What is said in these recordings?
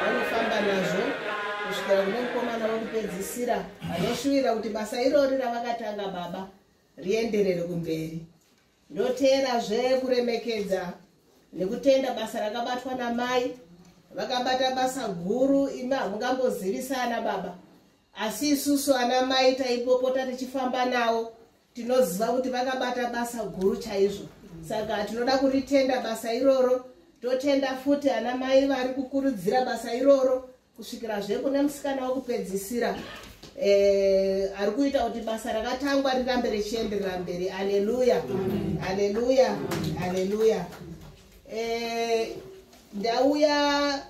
vanofamba nazvo kusvikira kune mukomana wekupedzisira vanoshuvira kuti basa irori ravakatanga baba rienderere kumberi ndoteerazve kuremekedza nekutenda basa rakabatwa namai vakabata basa guru imi hamungambozivisana baba asi isusu ana mai taipopota tichifamba nawo tinoziva kuti vakabata basa guru chaizvo saka tinoda kuritenda basa iroro totenda futi ana mai vari kukurudzira basa iroro kusvikira zve kune musikana wekupedzisira eh, ari kuita kuti basa rakatangwa rirambe richienderera mberi aleluya aleluya aleluya eh, ndauya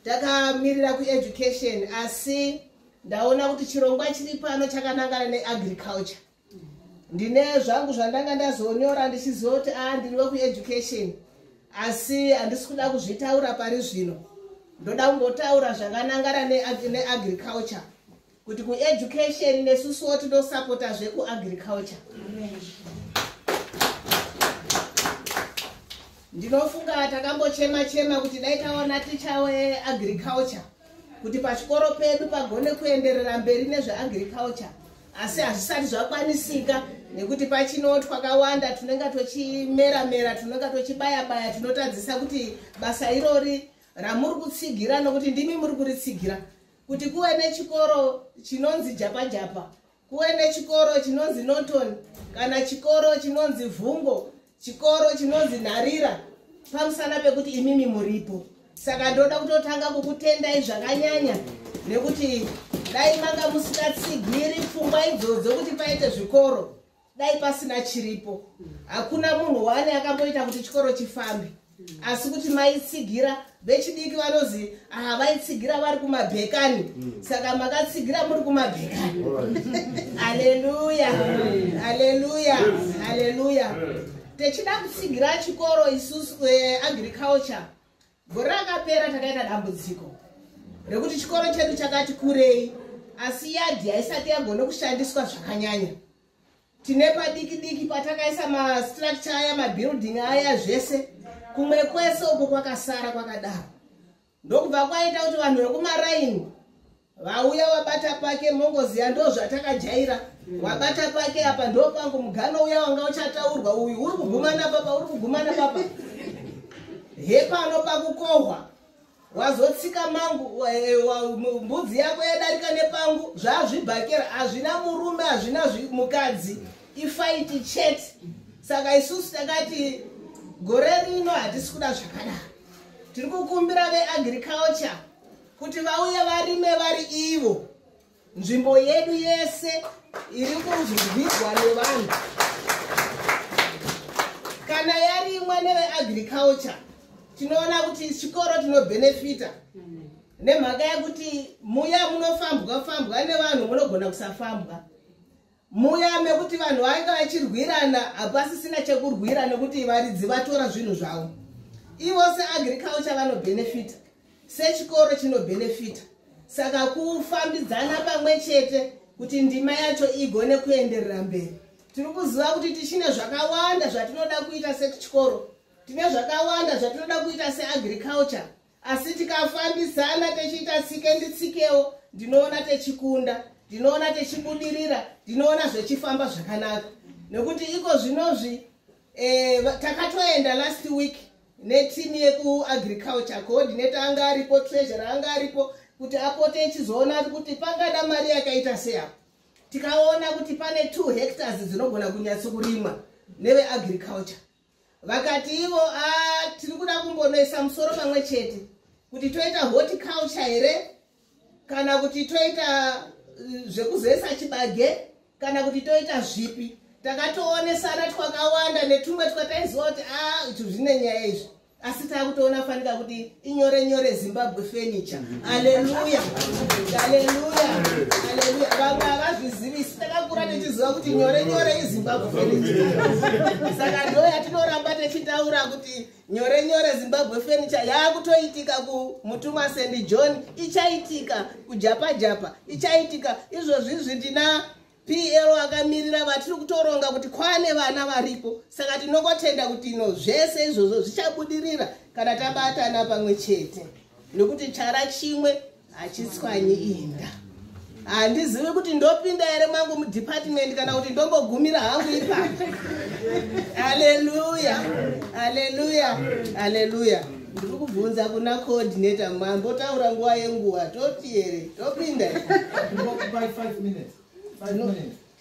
takamirira kueducation asi ndaona kuti chirongwa chiri pano chakanangana neagriculture ndine zvangu zvandanga ndazonyora ndichizoti a ah, ndiri wekueducation asi handisi kuda kuzvitaura pari zvino ndoda kungotaura zvakanangana neagriculture ne kuti kueducation nesusuwo tinosapota zvekuagriculture ndinofunga takambochema chema kuti dai taona ticha weagriculture kuti pachikoro pedu pagone kuenderera mberi nezveagriculture asi hazvisati zvakwanisika nekuti pachino twakawanda tinenge tochimera mera tinenge tochibaya baya tinotadzisa kuti basa irori ramuri kutsigira nokuti ndimi muri kuritsigira kuti kuve nechikoro chinonzi japajapa kuve nechikoro chinonzi norton kana chikoro chinonzi vhungo chikoro chinonzi nharira pamusana pekuti imimi muripo saka ndoda kutotanga kukutendai zvakanyanya nekuti dai manga musingatsigiri pfungwa idzodzo kuti paite zvikoro dai pasina chiripo hakuna munhu wani akamboita kuti chikoro chifambe asi kuti maitsigira vechidiki vanozi aha vaitsigira vari kumabhekani hmm. saka makatsigira muri kumabhekani aleluya aleluya aleluya techida kutsigira chikoro isusu eh, agriculture Gore rakapera takaita dambudziko rekuti chikoro chedu chakati kurei asi yadhi haisati yagona kushandiswa zvakanyanya. Tine padiki diki patakaisa mastructure aya mabuilding aya zvese kumwe kwese uko kwakasara kwakadaro. Ndokubva kwaita kuti vanhu vekumaraini vauya wabata pake mongoziya ndo zvatakajaira mm. wabata pake apa ndo pangu mugano uya wanga uchataurwa uyu uri kugumana papa uri kugumana papa hepano pakukohwa wazotsika mangu eh, mbudzi yako yadarika nepangu zvazvibhakera hazvina murume hazvina mukadzi ifaiti chete saka isusu takati gore rino hatisi kuda zvakadaro tiri kukumbira veagriculture kuti vauye varime vari ivo nzvimbo yedu yese iri kunzwirwa nevanhu kana yarimwa neveagriculture tinoona kuti chikoro tinobhenefita nemhaka yekuti muya munofambwa fambwa nevanhu munogona kusafambwa Muya mekuti vanhu vainga vachirwirana hapasisina chekurwira nekuti varidzi vatora zvinhu zvavo. Ivo seagriculture vanobenefita, sechikoro chinobenefita. Saka kufambidzana pamwe chete kuti ndima yacho igone kuenderera mberi. Tiri kuziva kuti tichine zvakawanda zvatinoda kuita sechikoro. Tine zvakawanda zvatinoda kuita seagriculture. asi tikafambisana techiita tsike nditsikewo ndinoona techikunda ndinoona techibudirira ndinoona zvechifamba zvakanaka nekuti iko zvinozvi eh, takatoenda last week netimu yekuagriculture coordinator anga aripo treasurer anga aripo kuti apote echizoona kuti pangada mari yakaita seapo tikaona kuti pane two hectares dzinogona kunyatsokurimwa neveagriculture vakati ivo ah, tiri kuda kumbonoisa musoro pamwe chete kuti toita horticulture here kana kuti toita eh, zvekuzesa chibage kana kuti toita zvipi takatoonesana twakawanda netumwe twataiziva kuti a ah, izvi zvine nyaya izvi asi taakutoona fanika kuti inyore nyore zimbabwe furniture aleluya aleluya aleluya vamwe havazvizivisi takakura tichiziva kuti nyore nyore izimbabwe furniture saka ndo yatinoramba tichitaura kuti nyore nyore zimbabwe furniture yaakutoitika kumutumwa sendi john ichaitika kujapa japa ichaitika izvozvizvi ndina pl akamirira vatiri kutoronga kuti kwane vana varipo saka tinokotenda kuti ino zvese izvozvo zvichabudirira kana tabatana pamwe chete nokuti chara chimwe hachitswanyi inda handizivi kuti ndopinda here mangu mudepartment kana kuti ndongogumira hangu ipapo aleluya aleluya aleluya ndiri kubvunza kuna coordinator mambo taura nguva yenguva toti here topinda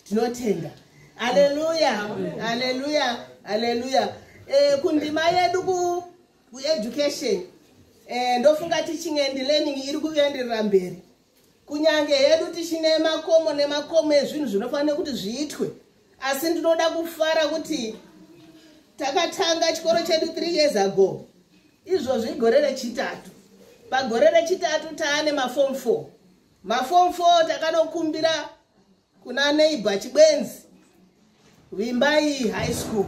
tinotenda aleluya aleluya aleluya eh, kundima yedu kueducation eh, ndofunga teaching and learning iri kuenderera mberi kunyange hedu tichine makomo nemakomo ezvinhu zvinofanira kuti zviitwe asi ndinoda kufara kuti takatanga chikoro chedu three years ago izvozvi igore rechitatu pagore rechitatu taane mafom four mafom four takanokumbira kuna neighbor chibwenzi vimbai high school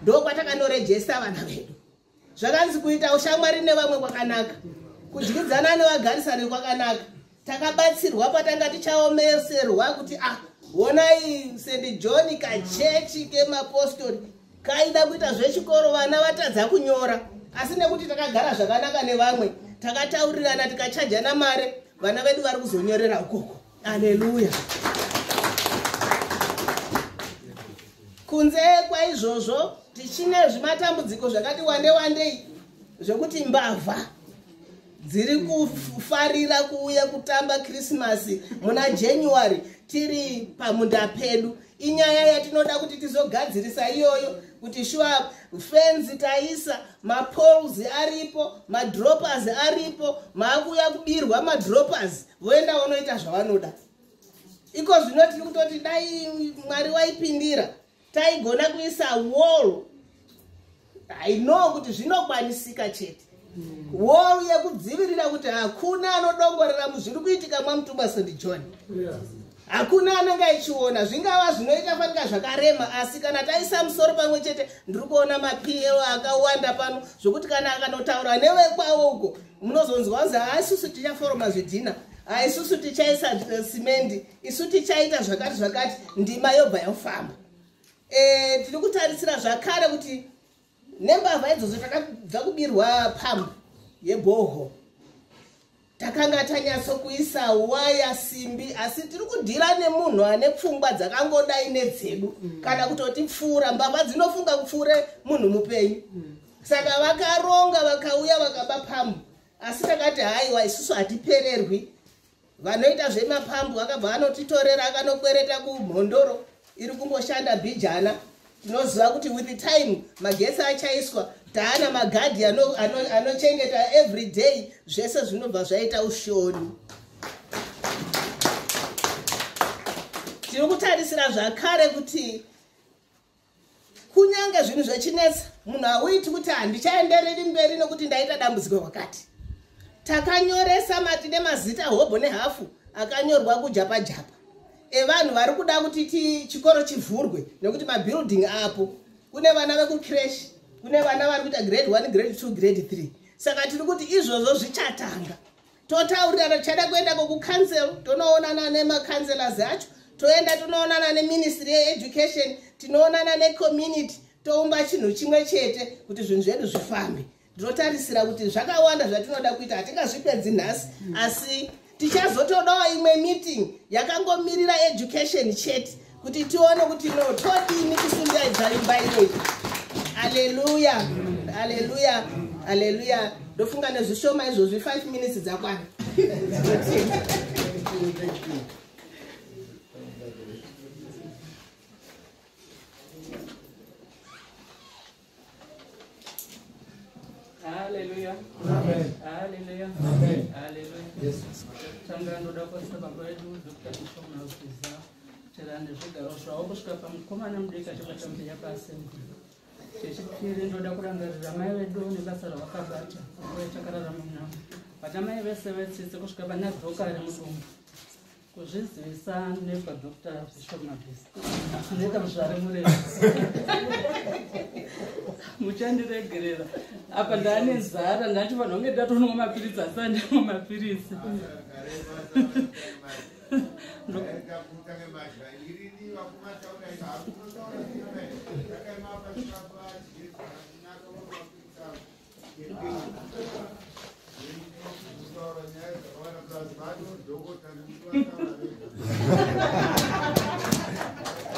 ndokwatakanorejesta vana vedu zvakanzi kuita ushamwari nevamwe kwakanaka kudyidzana nevagarisani kwakanaka takabatsirwa patanga tichaomeserwa kuti a ah, honai st john kachechi kemapostori kaida kuita zvechikoro vana vatadza kunyora asi nekuti takagara zvakanaka nevamwe takataurirana tikachajana mari vana vedu vari kuzonyorera ukoko aleluya kunze kwaizvozvo tichine zvimatambudziko zvakati wande wandei zvekuti mbavha dziri kufarira kuuya kutamba krismasi muna january tiri pamunda pedu inyaya yatinoda kuti tizogadzirisa iyoyo kuti shuwa fenzi taisa mapols aripo madroppers aripo maakuuya kubirwa madroppers voenda vonoita zvavanoda iko zvino tiri kutoti dai mwari waipindira taigona kuisa wall i know kuti zvinokwanisika chete wall yekudzivirira kuti hakuna anodongorera muzviri kuitika mwamutumwa st john hakuna anenge aichiona zvingava zvinoita fanika zvakarema asi kana taisa musoro pamwe chete ndiri kuona mapl akawanda pano zvokuti kana akanotaura nevekwavo uko munozonzwa kunzi haisusu tichaforoma zvidhina haisusu tichaisa eh, simendi isu tichaita zvakati zvakati ndima yobva yofamba e, tiri kutarisira zvakare kuti nembavha idzodzo takabva kubirwa pambu yeboho takanga tanyatso kuisa waya simbi asi tiri kudhira nemunhu ane pfungwa dzakangodai nedzedu mm. kana kutoti pfuura mbavha dzinofunga kupfuure munhu mupenyu mm. saka vakaronga vakauya vakaba pambu asi takati haiwa isusu hatipererwi vanoita zvemapambu akabva anotitorera akanokwereta kumhondoro iri kungoshanda bhijana tinoziva kuti with time magesi achaiswa taana magadhi anochengeta ano, ano every day zvese zvinobva zvaita ushoni tiri kutarisira zvakare kuti kunyange zvinhu zvechinetsa munhu hauiti kuti handichaendereri mberi nokuti ndaita dambudziko kwakati takanyoresa mati nemazita hobho nehafu akanyorwa kujapajapa evanhu vari kuda kuti ti chikoro chivhurwe nekuti mabuilding apo kune vana vekucrash kune vana vari kuita grade one grade two grade three saka tiri kuti izvozvo zvichatanga totaurirana tichada kuenda kokucouncil tonoonana nemacouncelors acho toenda tonoonana neministry yeeducation tinoonana necommunity toumba chinhu chimwe chete kuti zvinhu zvedu zvifambe ndinotarisira kuti zvakawanda zvatinoda kuita hatingazvipedzi nhasi asi tichazotodawo imwe meeting yakangomirira education chete kuti tione kuti no todini kusungaidza imba iyoyi aleluya aleluya aleluya ndofunga nezvishoma izvozvi five minutes dzakwana Hallelujah. Amen. Hallelujah. Amen. Hallelujah. Yes. Tanga ndoda kuisa baba vedu Dr. Bishop Mausiza tirande zvigaro zvavo kusvika pamukomana mudiki achibata mbuya paasembi. Chechipiri ndoda kurangarira mai vedu nebasa ravakabata nguva yatakararama munamo. Vana mai vese vetsitsi kusvika pana Dhokari mudumbu. kuzvizivisa nekwa dr zvishomabhisi zvinoita muzvare murema muchandiregerera apa ndaane nzara ndati vanhu vange ndatonwa mapiritsi asi andimwa mapiritsi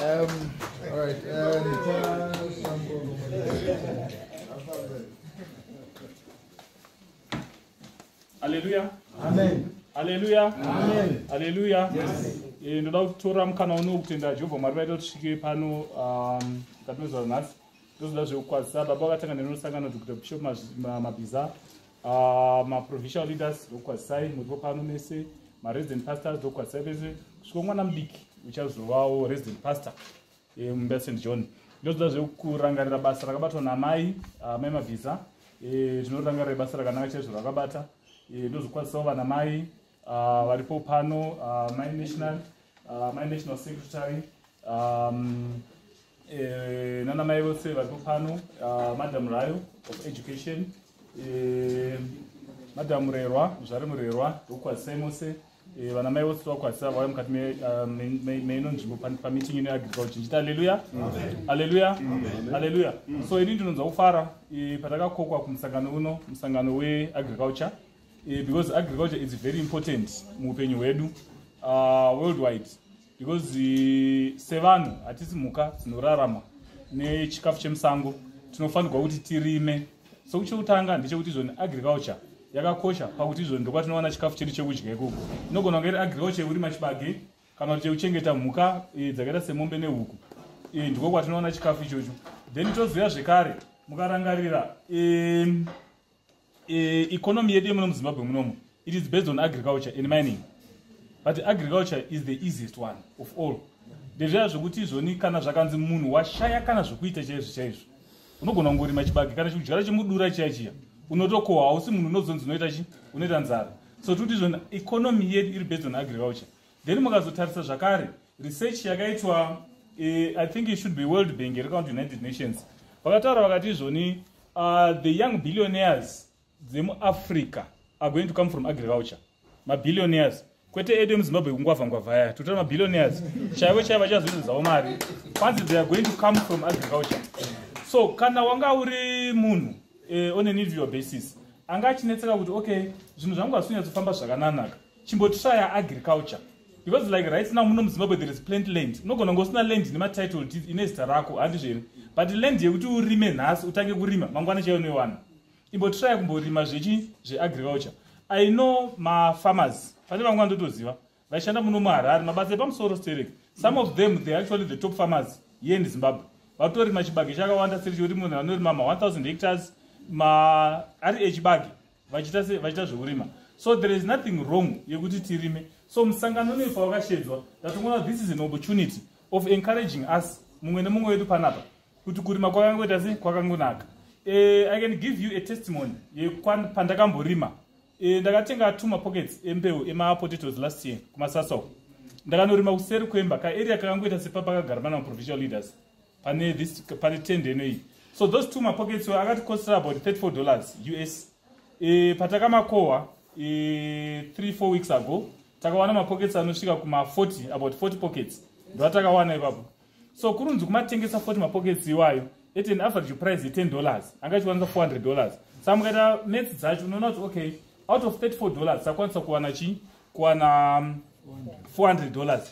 um, all right, Hallelujah. Amen. Hallelujah. Amen. Hallelujah. Yes. Eh, ndoda kutora mukana uno kutenda jehovha mwari vaita kuti tisvike pano um, katinozoa nhasi ndozoda zvekukwazisa baba vakatanga nenosangano dr bishop mabhiza ah, maprovincial leaders ndokukwazisai muripo pano mese maresident pastors ndokukwazisai vese kusvika mwana mudiki uchazovawo resident pastor eh, mumba st john ndozoda zvekurangarira basa rakabatwa namai ah, mai mabhiza eh, tinorangarira basa rakanaka chaizvo rakabata eh, ndozokwazisawo vana mai ah, varipo pano mai national mai national secretary um, eh, nana mai vose varipo pano uh, madam rayo of education eh, madam murerwa muzvari murerwa ndokukwazisai mose eh, vana mai vose tovakwazisa vauya mukati ah, meino nzvimbo pameeting ino yaagrical chinjiti aleluya aleluya aleluya so ini ndinonzwa kufara eh, patakakokwa kumusangano uno musangano weagriculture eh, because agriculture is very important muupenyu hwedu uh, worldwide because eh, sevanhu hatisi mhuka dzinorarama nechikafu chemusango tinofanirwa kuti tirime so kuchekutanga ndechekuti izvoni agriculture yakakosha pakuti izvoni ndokwatinowana chikafu chedu chekudya ikoko inogona kunge iri agriculture yekurima chibage kana kuti chekuchengeta mhuka eh, dzakaita semombe nehuku eh, ndiko kwatinowana chikafu ichocho then tozouya zvekare mukarangarira e, economy yedu yemuno muzimbabwe munomu it is based on agriculture and mining but agriculture is the easiest one of all ndezviya zvekuti izvoni kana zvakanzi munhu washaya kana zvekuita chaizvo chaizvo unogona kungorima chibage kana chikudyara chemudura chiya chiya unotokohwa hausi munhu unozonzi unoita chi unoita nzara so tikuti izvoni economy yedu iri based on agriculture then mukazotarisa zvakare research yakaitwa eh, i think it should be world bank here kana kuti united nations vakataura vakati izvoni uh, the young billionaires dzemuafrica are going to come from agriculture mabillionaires kwete edu emuzimbabwe kungwavha ngwavha aya totora mabillionaires chaivo chaivo vachazoita dzavo mari kwanzi they are going to come from agriculture so kana wanga uri munhu eh, on an individual basis anga achinetseka kuti okay zvinhu zvangu hazvinyatsofamba zvakananaka chimbotishaya agriculture because like right now muno muzimbabwe there is plant land unogona kunge usina land nematitle deed ine zita rako handizvo here but land yekuti urime nhasi utange kurima mangwana chaiyo unoiwana imbotiraya kumborima zvechi zveagriculture i know mafarmers pane vamwe vandotoziva vaishanda muno muharare mabasa epamusoro sterek some of them they actually the top farmers here in zimbabwe vatorima chibage chakawanda seri chekuti munhu anorima ma 1000 hectares ma ari echibage vachiita se vachiita zvekurima so there is nothing wrong yekuti tirime so musangano unoyu pawakashedzwa ndatongoona this is an opportunity of encouraging us mumwe nemumwe wedu panapa kuti kurima kwakangoita se kwakangonaka uh, i can give you a testimony yepandakamborima eh, ndakatenga two mapockets embeu emapotatoes last year kumasasau ndakanorima kuseri kwemba kaarea kakangoita sepapakagara vana maprovincial leaders pane this pane tend eno iyi so those two mapockets were akati costera about 34 dollars us e, patakamakohwa e, 3 4 weeks ago takawana mapockets anosvika kuma 40 about 40 pockets ndoatakawana ipapo so kurunzi kumatengesa 40 mapockets iwayo at an average price ye10 dollars anga ichiwanisa 400 dollars sa mukaita mats dzacho unoona kuti okay out of 34 dollars sakwanisa kuwana chii kuwana 400 um, dollars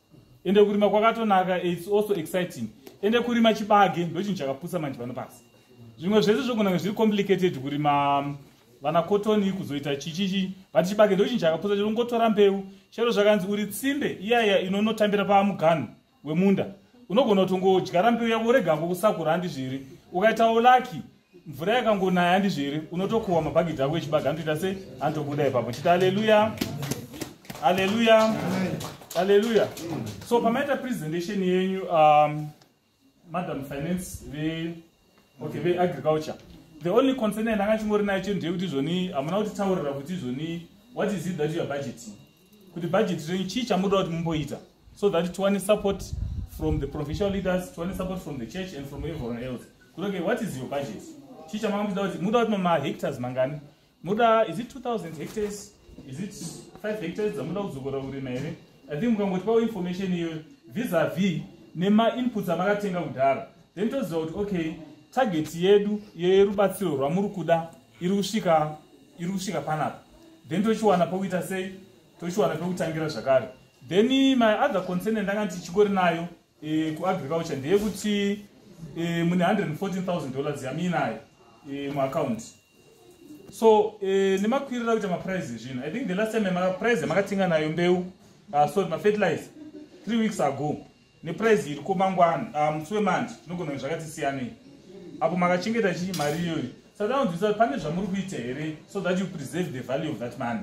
ende kurima kwakatonaka its also exciting ende kurima chibage ndochinhu chakapusa manje pano pasi zvimwe zvese zvokunange zviri complicated kurima um, vana kotoni kuzoita chichichi but chibage ndochinhu chakapusa chinongotora mbeu chero zvakanzi uri tsimbe iyaya inonotambira pamuganhu wemunda unogona kutongodyara mbeu yavo urega ngokusakura handi zviri ukaitawo laki mvura yakangonaya handizvo here unotokuhwa mabhagidhi ako echibaga anotoita sei anotobuda ipapo chiti aleluya aleluya aleluya so pamaita presentation yenyu um, madam finance ve okay veagriculture the only concern yandanga chingori nayo chete ndeyekuti izvoni hamuna kutitaurira kuti izvoni what is it that youare budgeting kuti bhajeti renyu chii chamunoda kuti mumboita so that tiwane support from the provincial leaders tiwane support from the church and from everyone else kuti okay what is your budget chii chamanga muchida kuti muda kuti mahectars mangani muda is it 2000 hectars is it 5 hectars dzamuda kudzokora kurima here i think mukangotipawo information iyoyo vis a vis nemainputs amakatenga kudhara then toziva kuti okay target yedu yerubatsiro rwamuri kuda iri kusvika iri kusvika panapa then tochiwana pokuita sei tochiwana pekutangira zvakare then my other concern ndanga ndichikori nayo e, kuagriculture ndeyekuti e, mune 114000 dollars yamiinayo e, muaccount so e, nemakwirira kuita maprice ezvino i think the last time price yamakatenga nayo mbeu uh, sorry mafertilizer three weeks ago neprice iri ko mangwana ah, musi wemanje tinogona kuti zvakati siyanei apo makachengeta chii mari iyoyo saka anonzwisa kuti pane zvamuri kuita here so that you preserve the value of that money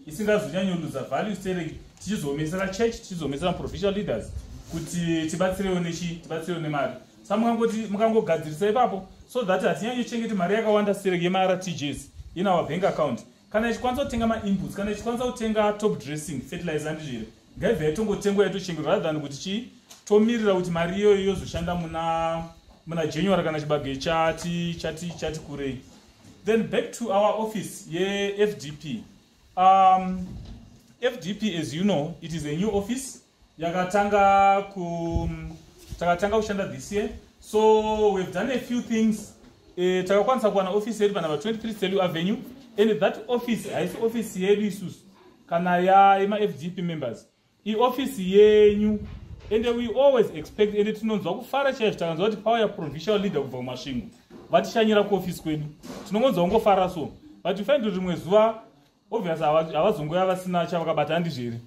isingazonyanyoluza value sere tichizoomesera church tichizoomesera provincial leaders kuti tibatsirewo nechi tibatsirewo nemari sa mukangoti mukangogadzirisa ipapo so that hatinyanyochengeti mari yakawanda sere yemartjs in our bank account kana ichikwanisa kutenga mainputs kana ichikwanisa kutenga top dressing fertilizer andi zviri ngaibva yaitongotengwa yaitochengetwa rather than kuti chii tomirira kuti mari iyoyo yozoshanda muna muna january kana chibage chati chati chati kurei then back to our office yefdp um, fdp as you know it is a new office yakatanga ku takatanga kushanda this year so we've done a few things eh, takakwanisa kuwana office yedu panumber 23 stelu avenue and that office haisi office yedu isusu kana yemafgp members ioffice yenyu and we always expect and tinonzwa kufara chaizvo takanzwa kuti power yaprovisional leader kubva kumasvingo vatishanyira kuoffice kwedu tinongonzwa kungofara so but you find kuti rimwe zuva obvious havazongouya vasina chavakabata handizvo here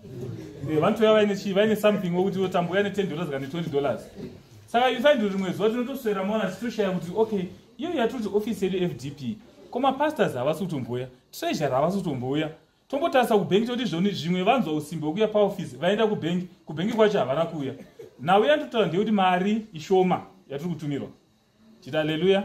eh, vanotouya vaine chii vaine something wekuti votambouya ne10 dollars kana ne20 dollars saka you find rimwe zuva tinotoswera mona tichitoshaya kuti okay iyo yatoti office yedu fdp komapastors havasi kutombouya treasure havasi kutombouya tombotarisa kubhengi toti zvoni zvimwe vanzwa usimbi hwekuya paofisi vaenda kubhengi kubhengi kwacho havana kuuya nhau yanditotaura ndeyekuti mari ishoma yatiri kutumirwa chita aleluya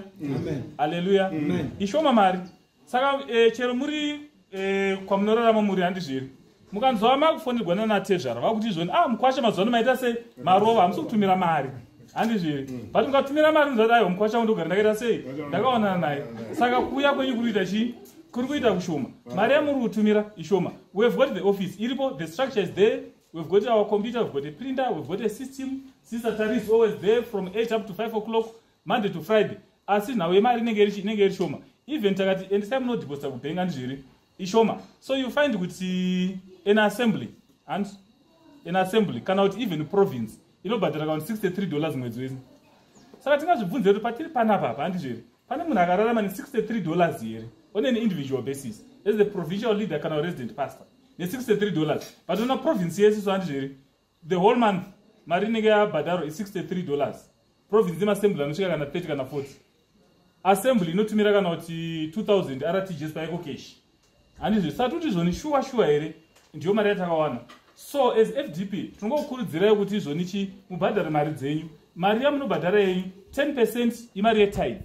aleluya ishoma mari saka e, chero muri e, kwamunorarama muri handizviri mukanzwa makufonerwa nanatezvara vakuti izvoni ah mukwasha mazuva ano maita sei marova hamusi kutumira mari handizviri mm. but mukatumira mari muzati aiwa mukwasha wangu ndogara ndakaita sei ndakaonana naye saka kuuya kwenyu kuri kuita chii kuri kuita kushoma mari yamuri kutumira ishoma we have got the office iripo the structure is there We've got our computer, we've got a printer, we've got a system. Sister Tari is always there from 8 up to 5 o'clock, Monday to Friday. Asi nhawu yemari inenge iri shoma. Even takati endisai munodeposita kubank andi zviri ishoma. So you find kuti an assembly and an assembly kana kuti even province inobhadhara kakuti 63 dollars mwedzi wese. Saka tingazvibvunze kuti patiri panapa hapa andi zviri. pane munhu akararama ne63 dollars here on an individual basis as the provincial leader kana resident pastor ne63 dollars but ona province yese so handizvo here the whole month mari inenge yabhadharo i63 dollars province yemasembly anosvika kana 30 kana 40 assembly inotumira kana kuti 2000 rtgs paiko keshi handizve satuti izvoni shuwa shuwa here ndiyo mari yatakawana so as fdp tinongokurudzirai kuti izvoni chi mubhadhare mari dzenyu mari yamunobhadhara yenyu 10 percent imari yetithe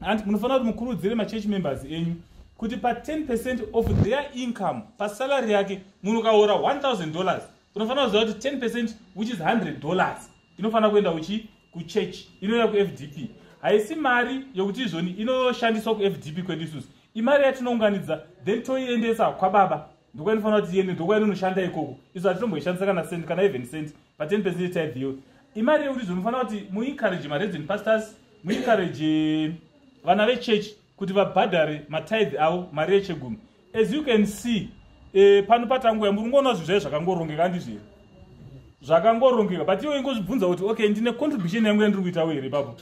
and munofanira kuti mukurudzire machurch members enyu kuti pa10 percent of their income pasalary yake munhu ukaora 1000 dollars unofanira kuziva kuti 10 percent which is 100 dollars inofanira kuenda uchi kuchurch inouya kufdp haisi mari yokuti izvoni inoshandiswa kufdp kwedu isusu imari yatinounganidza then toiendesa kwababa ndokwainofanira kuti iende ndokwainonoshanda ikoko isu hatinomboishandisa kana cent kana even cent paten percent tithe imari yekuti zvonofanira kuti muencourage maredzen pastors muencourage vana vechurch kuti vabhadhare matithe avo mari yechegumi as you can see eh, pano patanguya muri kungoona zvinhu zvaye zvakangorongeka andizvo here zvakangorongeka but iwe ingozvibvunza kuti okay ndine contribution yangu yandiri kuita wo here ipapo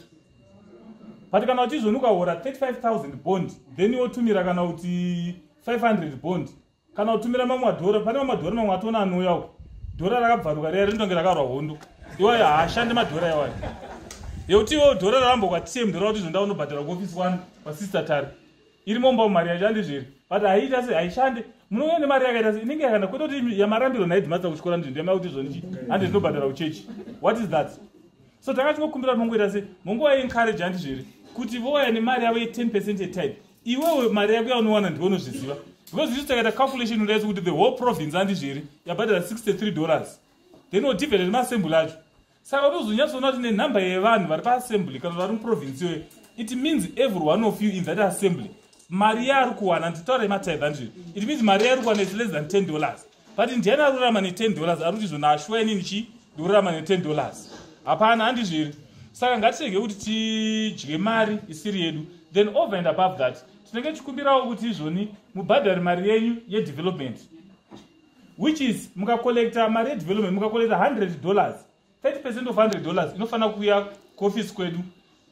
but kana uchizvoni ukahora 35000 bond then wotumira kana kuti 500 bond kana utumira mamwe madhora pane mamwe madhora mamwe atoona anouya uko dhora rakabvaruka riya rindonge rakarwa hondo iwayo haashandi madhora iwayo yekuti iwo dhora rarambo kwatiye mdhora kuti zvonda unobhadhara kuofisi kwani kwasister tari iri momba mari yashandi zviri but haiita se haishande munouya nemari yakaita se inenge yakana kwete kuti yamarambiro nhaidhimatsa kuchikora ndizvo ndiyamaya kuti zvonii handi ndinobhadhara kuchechi what is that so tanga tingokumbira kuti mongoita se mongovaencourage handi zviri kuti vouya nemari yavo ye10 percent yetype iwewe mari yako yaunowana ndiwe unozviziva because isu takaita calculation udaitso kuti the whole province andizviri yabhadhara 63 dollars then odivided nemaassembly acho saka unozonyatsoona kuti nenhamba yevanhu vari paassembly kana vari muprovince iyoyo it means every one of you in that assembly mari yaari kuwana nditaura yematithe andizviri it means mari yaari kuwana is less than 10 dollars but ndiani arurama ne 10 dollars ari kuti izvo nashwa inini chi ndikururama ne 10 dollars hapana handizviri saka ngatirege kuti tidye mari isiri yedu then over and above that tinenge tichikumbirawo kuti izvoni mubhadhari mari yenyu yedevelopment which is mukacollecta mari yedevelopment mukacollecta 100 dollars 30 percent of 100 dollars inofanira kuuya kuofisi kwedu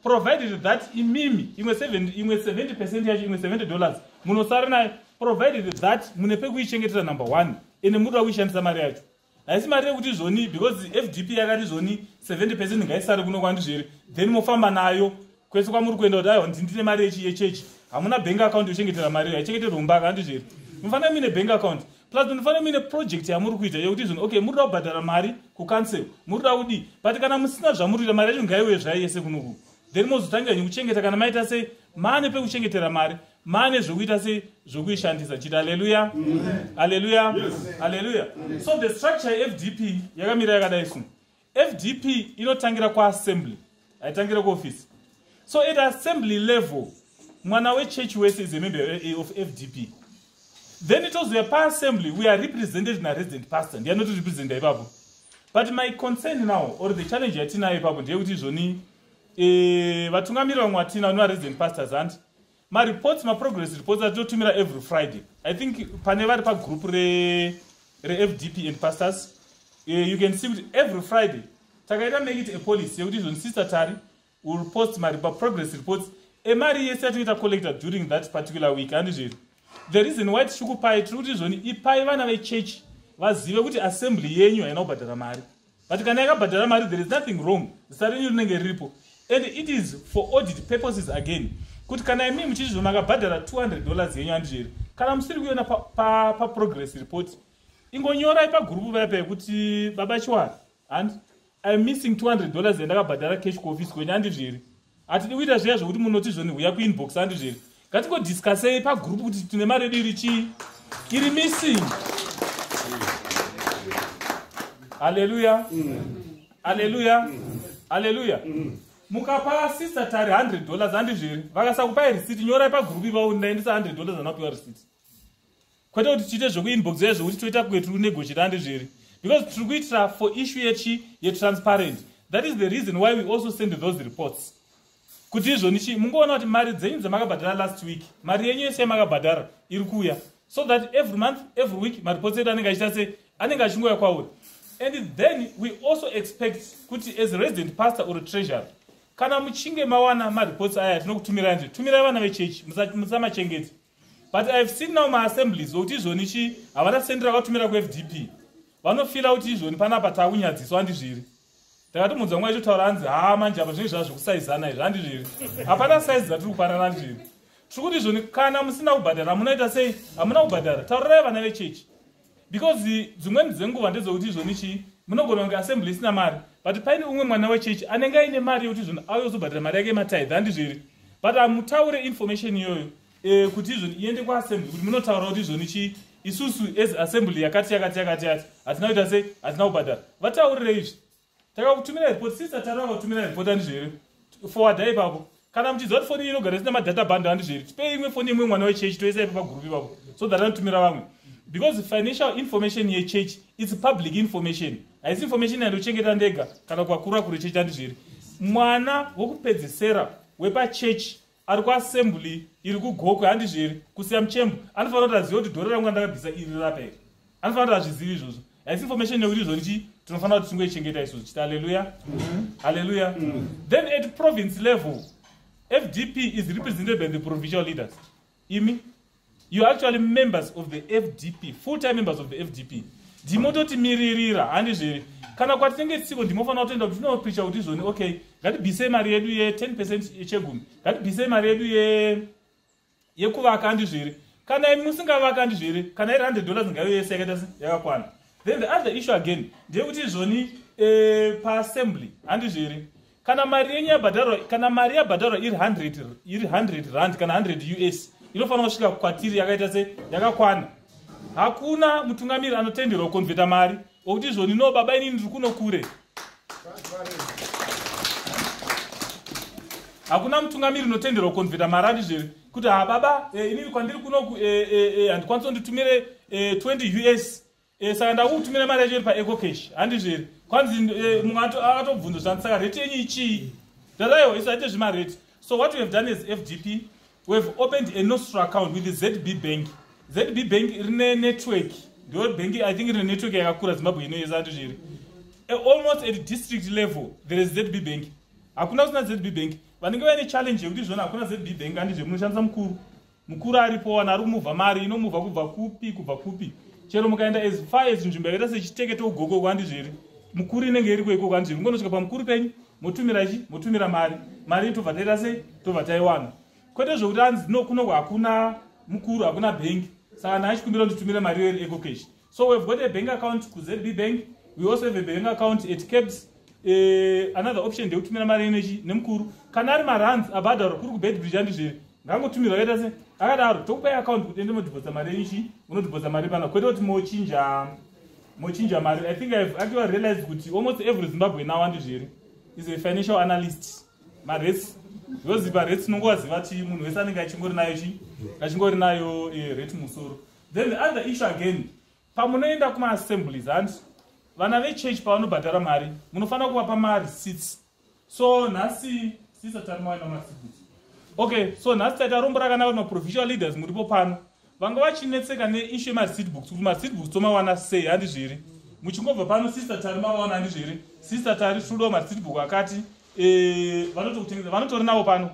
provided that imimi imwe 70 percent yacho imwe 70 dollars munosara nayo provided that mune pekuichengetera number one ende muri kuda kuishandisa mari yacho haisi mari yekuti izvoni because fdp yakati izvoni 70 percent ngaisare kuno kwandizvere then mofamba nayo kwese kwamuri kuenda kuti aiwa ndine mari yechechi hamuna bank account yochengetera mari iyo haichengeterwe mumbaka handizveri munofanira muine bank account plus munofanira muine project yamuri kuita yekuti zvinhu okay muri da kubhadhara mari kucancel muri da kudii but kana musina zvamuri kuita mari yacho ngaiuye zvayo yese kunoku then mozotangira nyi kuchengeta kana maita sei maane pekuchengetera mari maane zvokuita sei zvokuishandisa chiti aleluya aleluya aleluya so the structure yefdp yakamira yakadai sunu fdp inotangira kuassembly haitangire kuofisi so at assembly level mwana wechurch wese is a member of fdp then tozouya paassembly we are represented naresident pastor ndiyanotirepresenta ipapo but my concern now or the challenge yatinayo ipapo ndeyekuti izvoni eh, vatungamiri vamwe vatina vanovaresident pastors hanti mareports maprogress reports atitotumira every friday i think pane vari pagroup refdp re and pastors uh, you can see kuti every friday takaita make it a policy yekuti izvoni sister tari will post maprogress reports emari yese yatinoita collector during that particular week handizviri the reason why tichikupai tiri kuti izvoni ipai vana vechechi vazive kuti assembly yenyu haina kubhadhara mari but kana yakabhadhara mari there is nothing wrong zita renyu rinenge riripo and it is for audit purposes again kuti kana imi muchizvino makabhadhara 200 dollars yenyu handizvo here kana musiri kuiona paprogress pa, pa report ingonyorai pagurupu vaya pekuti baba chiwara handi iam missing 200 dollars yandakabhadhara cash kuoffice kwenyu handizvo here hatidi kuita zviya zvekuti munoti zvoni huya kuinbox andi zviri ngatingodiscusei pagroup kuti tine mari yedu iri chii iri missing haleluya haleluya haleluya mukapa sister tari 100 dollars andi zviri vakasakupai risiti nyorai pagroup ivawo ndaendisa 100 dollars anapiwa risiti kwete kuti tiite zvekuinboxa izvo kuti toita kuve tiri kunegochirande zviri because tiri kuitira for issue yechi yetransparent that is the reason why we also send those reports kuti izvoni chii mungoona kuti mari dzenyu dzamakabhadhara last week mari yenyu yese yamakabhadhara iri kuuya so that every month every week mareports edu anenge achiita se anenge achingouya kwauri and then we also expect kuti as resident pastor or treasury kana muchinge mawana mareports aya tinokutumirai nje tumirai vana vechechi musamachengeti but ihave seen now maassemblies okuti izvoni chii havana sendi rakatumira kufdp vanofila kuti izvoni panapa takunyadziswa handizviri takatomuudza nguva ichotaura hanzi haa manje apa zvinenge zvava zvekusaizana izvi handizviri hapana saizi dzatiri kupanana ndizviri tiri kuti izvoni kana musina kubhadhara munoita sei hamuna kubhadhara taurirai vana vechechi because dzimweni dzenguva ndedzokuti izvoni chii munogona kunge assembly isina mari but paine umwe mwana wechechi anenge aine mari yekuti izvoni auye kuzobhadhira mari yake yematithe handizvo here but hamutaure information iyoyo eh, kuti izvoni iende kuassembly kuti munotaura kuti izvoni chii isusu as assembly yakati yakati yakati yati hatina kuita sei hatina kubhadhara vataurire izvi takakutumira report sister tara vakakutumira report andizvo here forwardai ipapo kana muchiziva kuti foni iyi inogara isina madata bando andizvo here tipei imwe foni imwe mwana wechechi toisa ipo pagroup ipapo so that anotumira vamwe because financial information yechurch its public information haisi information yandochengeta ndega kana kukakura kure chechi andizvo here mwana wokupedzesera wepachechi ari kuassembly iri kugokwe handizvo here kusiya muchembo anofanira kuti aziva kuti dhora rangu randakabvisa iri rapa here anofanira kuti azvizivi izvozvo haisi information yekuti izvo ndichi tinofanira kuti tingoichengeta isu tichiti haleluya mhm. haleluya mhm. then at province level fdp is represented by the provincial leaders imi you actually members of the fdp full time members of the fdp ndimototimiririra handizviri kana kwatinenge tisiko ndimofanira kutoenda kuti tinopricha kuti izvoni okay ngatibisei mari yedu ye10 percent yechegumi ngatibisei mari yedu yekuvaka handizviri kana imi musingavaka handizviri kana iri 100 dollars ngayo yese yakaita se yakakwana then the other issue again ndeyekuti izvoni eh, paassembly handizviri kana mari yenyu yabhadharwa kana mari yabhadharwa iri 100 iri 100 rand kana 100 us inofanira kusvika kwatiri yakaita se yakakwana hakuna mutungamiri anotenderwa kukonvheta mari okuti izvoni no baba inini ndiri kuno kure hakuna mutungamiri unotenderwa kukonvheta mari ati zviri kuti ha baba eh, inini kwandiri kunoku eh, eh, handikwanisa kunditumire 20 us Eh, saka ndakukutumira mari yacho iri paeco cash handizvo here kwanzi eh, mumwe akatobvunza zvandi saka rate yenyu ichii ndaraiwo isu haite zvemarate so what we have done as fdp we have opened a nostra account with the zb bank zb bank rine network ndo bank i think rine network yakakura zimbabwe ino yese handizvo here eh, almost at district level there is zb bank hakuna kusina zb bank vanenge vaine challenge yekuti zvona hakuna zb bank handizvo munoshandisa mukuru mukuru aripo wani ari kumuvha mari inomuvha kubva kupi kubva kupi chero mukaenda as far as nzvimbo yakaita sechiteke tougoko iko handizvo here mukuru inenge iriko ikoko handizvo here mukonosvika pamukuru penyu motumira chi motumira mari mari tobva taita sei tobva taiwana kwete zvokuti anzi no kunoko hakuna mukuru hakuna bhengi saka naachikumira nditumire mari iyo iri ecocash So we've got a bank account ku ZB Bank. We also have a bank account at Cabs. Uh, eh, another option ndekutumira mari energy nemukuru kana ari marands abhadharo kuri kubedbridge andi zviri ngangotumirwa akaita se akadaro tokupai account kuti ende modhibhodza mari yenyu chii unodhibhodza mari pana kwete kuti mochinja mochinja mari i think ihave actually realized kuti almost every zimbabwe now andi zviri is a financial analyst marets yoziva rets unongowaziva ti munhu wese anenge achingori nayo chii achingori nayo eh, ret musoro then the other issue again pamunoenda kumaassemblies hanti vana vechurch pavanobhadhara mari munofanira kuvapa marecits so nhasi sisa tarimaina marecits okay so nhasi taita rombo rakanaka kuti maprovisional leaders muripo pano vanga vachinetseka neishu yemarecit books kuti marecit books tomawana sei handi zviri muchingobva pano sisa tari mavawana handi zviri sisa tari svudo marecit book akati eh, vanotokutengeaa vanotorinavo pano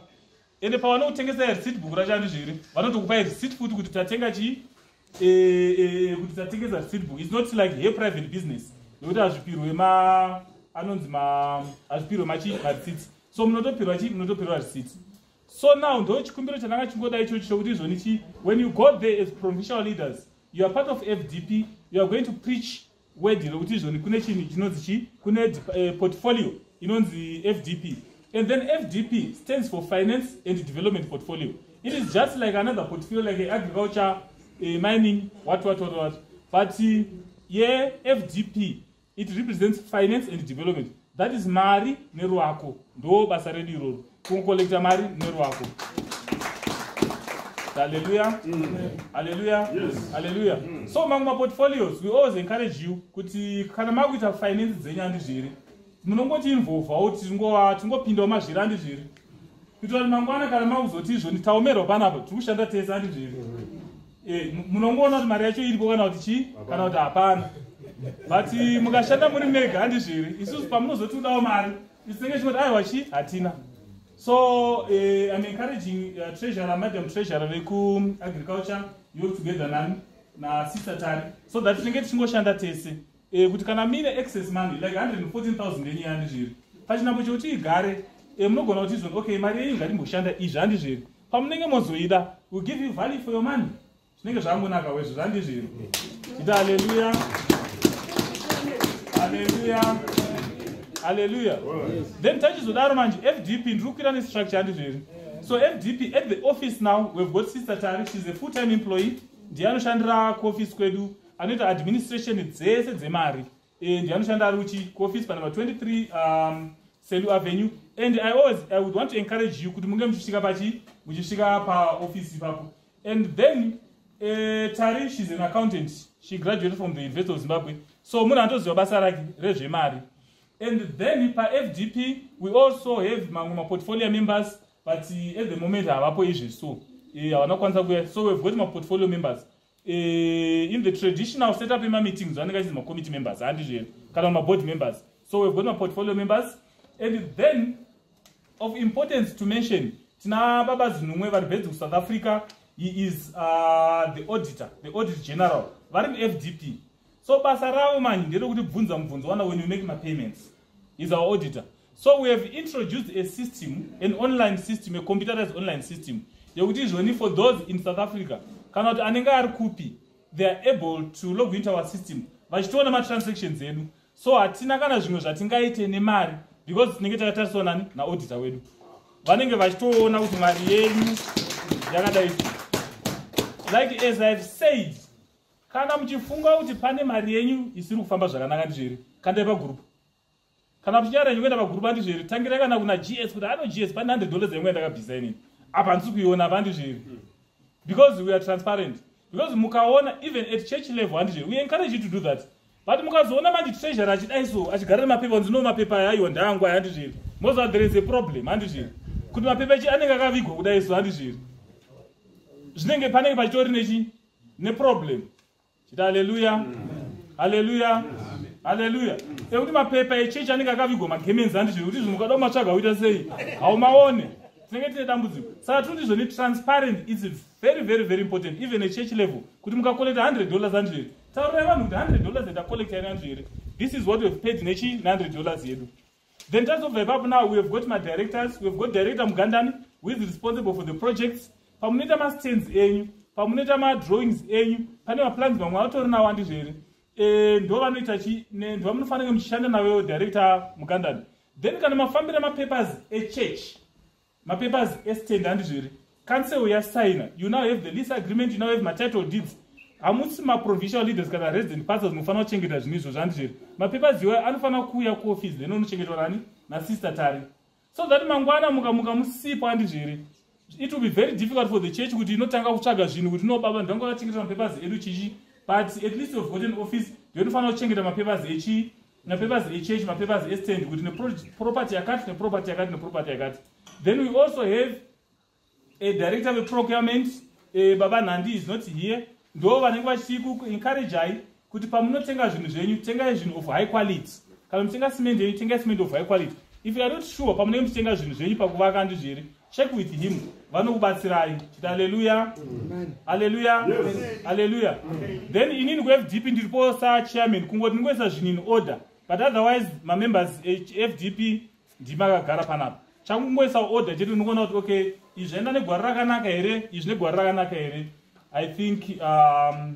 ende pavanokutengesa receipt book racho andizvo here vanotokupa receipt futi kuti tatenga chii e, e, e, kuti tatengesa receipt book its not like he private business nekuti hazvipirwe ma anonzi ma hazvipirwe machii mareceipt so munotopirwa chii munotopirwa receipt so now ndo chikumbiro chandanga chingoda ichochi chokuti izvoni chii when you go there as provincial leaders you are part of fdp you are going to preach word rokuti izvoni kune chinhu chinonzi chi kune eh, portfolio inonzi fdp and then fdp stands for finance and development portfolio it is just like another portfolio like a agriculture a mining what what what what but uh, ye fdp it represents finance and development That is mari neruako ndo basa redu iroro kungokolekta mari neruako haleluya haleluya haleluya so mamwe maportfolios we always encourage you kuti kana makuita finance dzenyu andi zviri munongoti involvawo tingopindawo mazviri andi zviri kuitira kuti mangwana kana makuzoti izvo nditaomerwa panapa tiri kushanda tese andi zviri Eh, munongoona kuti mari yacho iripo kana kuti chii kana kuti hapana but eh, mukashanda muri mega handizviri isusu pamunozotiudawo mari isinenge chingoti aiwa chii hatina so eh, im encouraging uh, treasurer madam treasurer vekuagriculture yo together nani nasister tari so that tinenge tichingoshanda tese eh, kuti kana mine excess money like 114000 enye handizviri pachinambo chekuti igare eh, munogona kuti izvoni okay mari yenyu ngatimboshanda izvi handizviri pamunenge mozoida will give you value for your money zvinenge zvangonaka wezvo zvandizviri ita aleluya aleluya aleluya then tachizodaro manje fdp ndiri kukwira nestructure andizviri so fdp at the office now we've got sister tari she's a full time employee ndiye anoshandira kuoffice kwedu anoita administration dzese dzemari Eh, ndianoshanda ari uchi kuoffice panumber 23 um, selu avenue and i always i would want to encourage you kuti munge muchisvika pachi muchisvika paoffice ipapo and then uh, tari shes an accountant she graduated from the university of zimbabwe so munhu anotoziva basa rake rezvemari and then pafdp we also have mamwe maportfolio members but eh, at the moment havapo izvi so havana kukwanisa kuya so we've got maportfolio members uh, in the traditional setup emameetings vanenge vachinzi macommittee members handizvo here kana maboard members so we've got maportfolio members and then of importance to mention tina baba zinumwe vari bedzi kusouth africa he is uh, the auditor the audit general vari mufdp so basa ravo manje nderekuti bvunza mubvunzo wana when you make mapayments is our auditor so we have introduced a system an online system a computerized online system yekuti izvoni for those in south africa kana kuti anenge ari kupi they are able to log into our system vachitoona matransactions edu so hatina kana zvimwe zvatingaite nemari because tinenge takatariswa nani naodita wedu vanenge vachitoona kuti mari yenyu yakadai like as ihave said kana muchifunga kuti pane mari yenyu isiri kufamba zvakanaka ndizveri kandai pagurupu kana muchinyara yenyu kuenda pagurupu andizveri tangirai kana kuna gs kuti ano gs pane 100 dollars yenyu yandakabvisa inini apa handisi kuiona apa andizveri because we are transparent because mukaona even at church level handizveri we encourage you to do that but mukazoona manje treasure achidai so achigarira mapepa kunzi no mapepa aya aiwa ndangu aya handizveri moziva there is a problem handizveri kuti mapepa chi anenge akavigwa kudai so handizveri zvinenge panenge pachitori nechi neproblem chiti haleluya haleluya haleluya ekuti mapepa echechi anenge akavigwa magemenzi andizvo kuti zvinhu ukada kumatsvaga uita sei haumaone tinenge tine dambudziko saka tiri ndizvo netransparent its very very very important even echurch level kuti mukakolekta 100 dollars andizvo here taurai vanhu kuti 100 dollars yatakolekta ine andizvo here this is what weave paid nechi ne100 dollars yedu Then tazobva ipapo now we have got my directors, we have got director Mugandani who is responsible for the projects. Pamunoita ma stands enyu, pamunoita ma drawings enyu, pane ma plans mamwe autori nawo andizvo here? Eh ndo vanoita chi ne ndo munofanira muchishanda nawo director Mugandani. Then kana mafambira ma papers e church mapapers estand handizvo here council yasaina you now have the lease agreement you now have matitle deeds hamusi maprovisional leaders kana resident pastors munofanira kuchengeta zvinhu izvo zvandizvo here mapapers iwayo anofanira kuuya kuoffice then unochengetwa nani nasister tari so that mangwana mukamuka musipo handizvo here it will be very difficult for the church kuti inotanga kutsvaga zvinhu kuti no baba ndanga vachengeta mapapers edu chichi but at least you've got an office ndinofanira kuchengeta mapapers echi mapapers echurch mapapers estand kuti neproperty yakati neproperty yakati neproperty yakati then we also have a director veprocurement eh, baba nhandi is not here ndo vanenge vachikuencourageai kuti pamunotenga zvinhu zvenyu tengai zvinhu of high quality kana mutenga cement yenyu tengai cement of high quality if youare not sure pamunenge muchitenga zvinhu zvenyu pakuvaka ndizviri check with him vanokubatsirai chiti aleluya aleluya aleluya then inini kufdp ndiripo sachairman kungoti ndingoisa zvinhu in order but otherwise mamembers efdp eh, ndimi akagara panapa changu kungoisa order chete ndingoona kuti okay izvi zvaenda negwara rakanaka here izvi negwara rakanaka here i think um,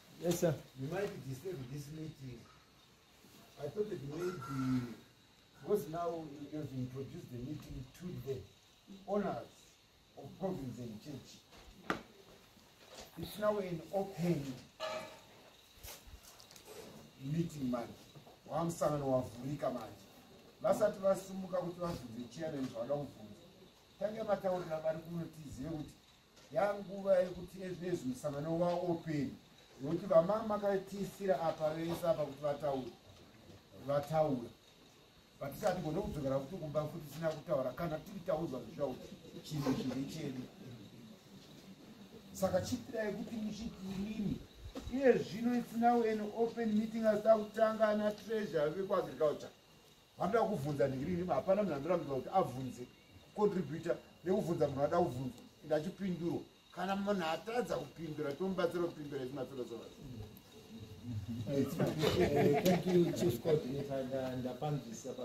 Yes, sir. You might disturb this meeting. I thought that maybe, because now you have introduced the meeting to the owners of Province and Church. It's now an open meeting manje wamusangano wavhurika manje vasati vasumuka kuti vabvunze chairman zvavada kubvunza tange mataurira vari kunotizive kuti yanguva yekuti ezvinezvi musangano waopeni nokuti vamama makatiisira apa vese apa kuti vataura vataura vatisati gone kudzokera kuti kumba futi tisina kutaura kana tiri taudzwa zvizvauri chinhu chiri chedu saka chitirai kuti muchiti inini iye zvino isinawo an open meeting asita kutanga ana treasure vekuagriculture vanoda kuvhunza ngirini hapana munhu anorambidza kuti avhunze kucontributa nekuvhunza munhu ada kuvhunza and achipindurwa kana munhu atadza kupindura tomubatsira kupindura ichimatsorozoa ndapanzwisa pa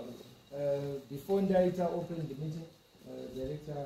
eh, before ndaita open the meeting eh, director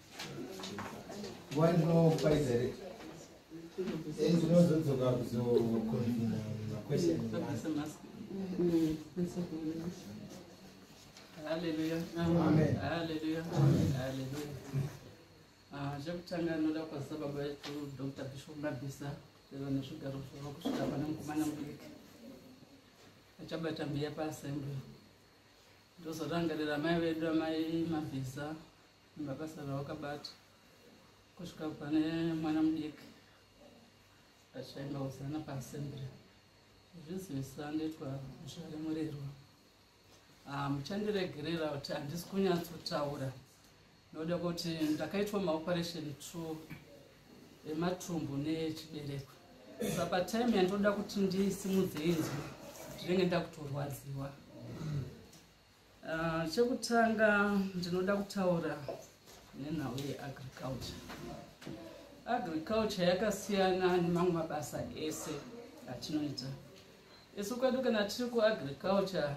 Hallelujah. Amen. Hallelujah. Amen. Hallelujah. Ah, zvekutanga anoda kwazisa baba vetu dr bishop mabisa veva nezvigaro zvavo kusvika pane mukomana mudiki achabata mbiya paassembly ndozorangarira mai vedu amai mabvisa mabasa rawakabata kusvika pane mwana mudiki achaimbauzana paassembly zvizivisa ndoitwa zvare murerwa ah, muchandiregerera kuti handisi kunyatsotaura noda kuti ndakaitwa maoperation two ematumbu nechibereko sa patime yandoda kuti ndisimudze inzwi ndinenge ndakutorwadziwa Ah, chekutanga ndinoda kutaura nenhau yeagriculture agriculture yakasiyana nemamwe mabasa ese atinoita isu kwedu kana tiri kuagriculture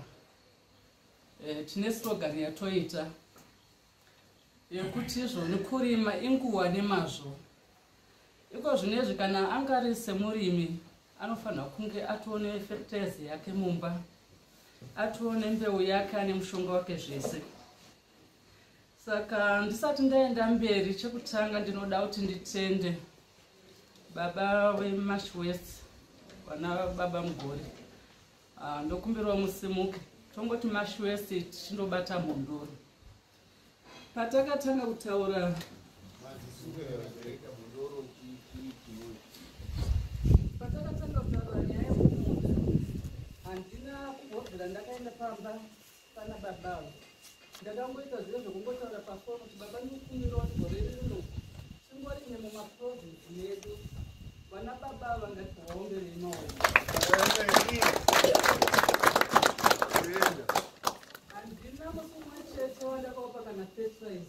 eh, tine slogan yatoita yekuti izvoni kurima inguva nemazvo iko zvinezvi kana anga ari semurimi anofanira kunge atoone fertilize yake mumba atoone mbeu yake ane mushonga wake zvese saka ndisati ndaenda mberi chekutanga ndinoda kuti nditende baba vemash west vana baba mugore Ah, ndokumbirwa musimuke tongoti mashwese tichindobata mhondoro patakatanga kutaura patakatanga kutaura nyaya yekumunda handina kugodzera ndakaenda pamba Kana baba avo ndakangoita zviye zvekungotaura pafoni kuti baba ndikumbirawo gore rino tingori ine mumaprovinsi medu vana baba ava ngati vaombere imaona handina musi umwe chete wandakaupa kana fetrize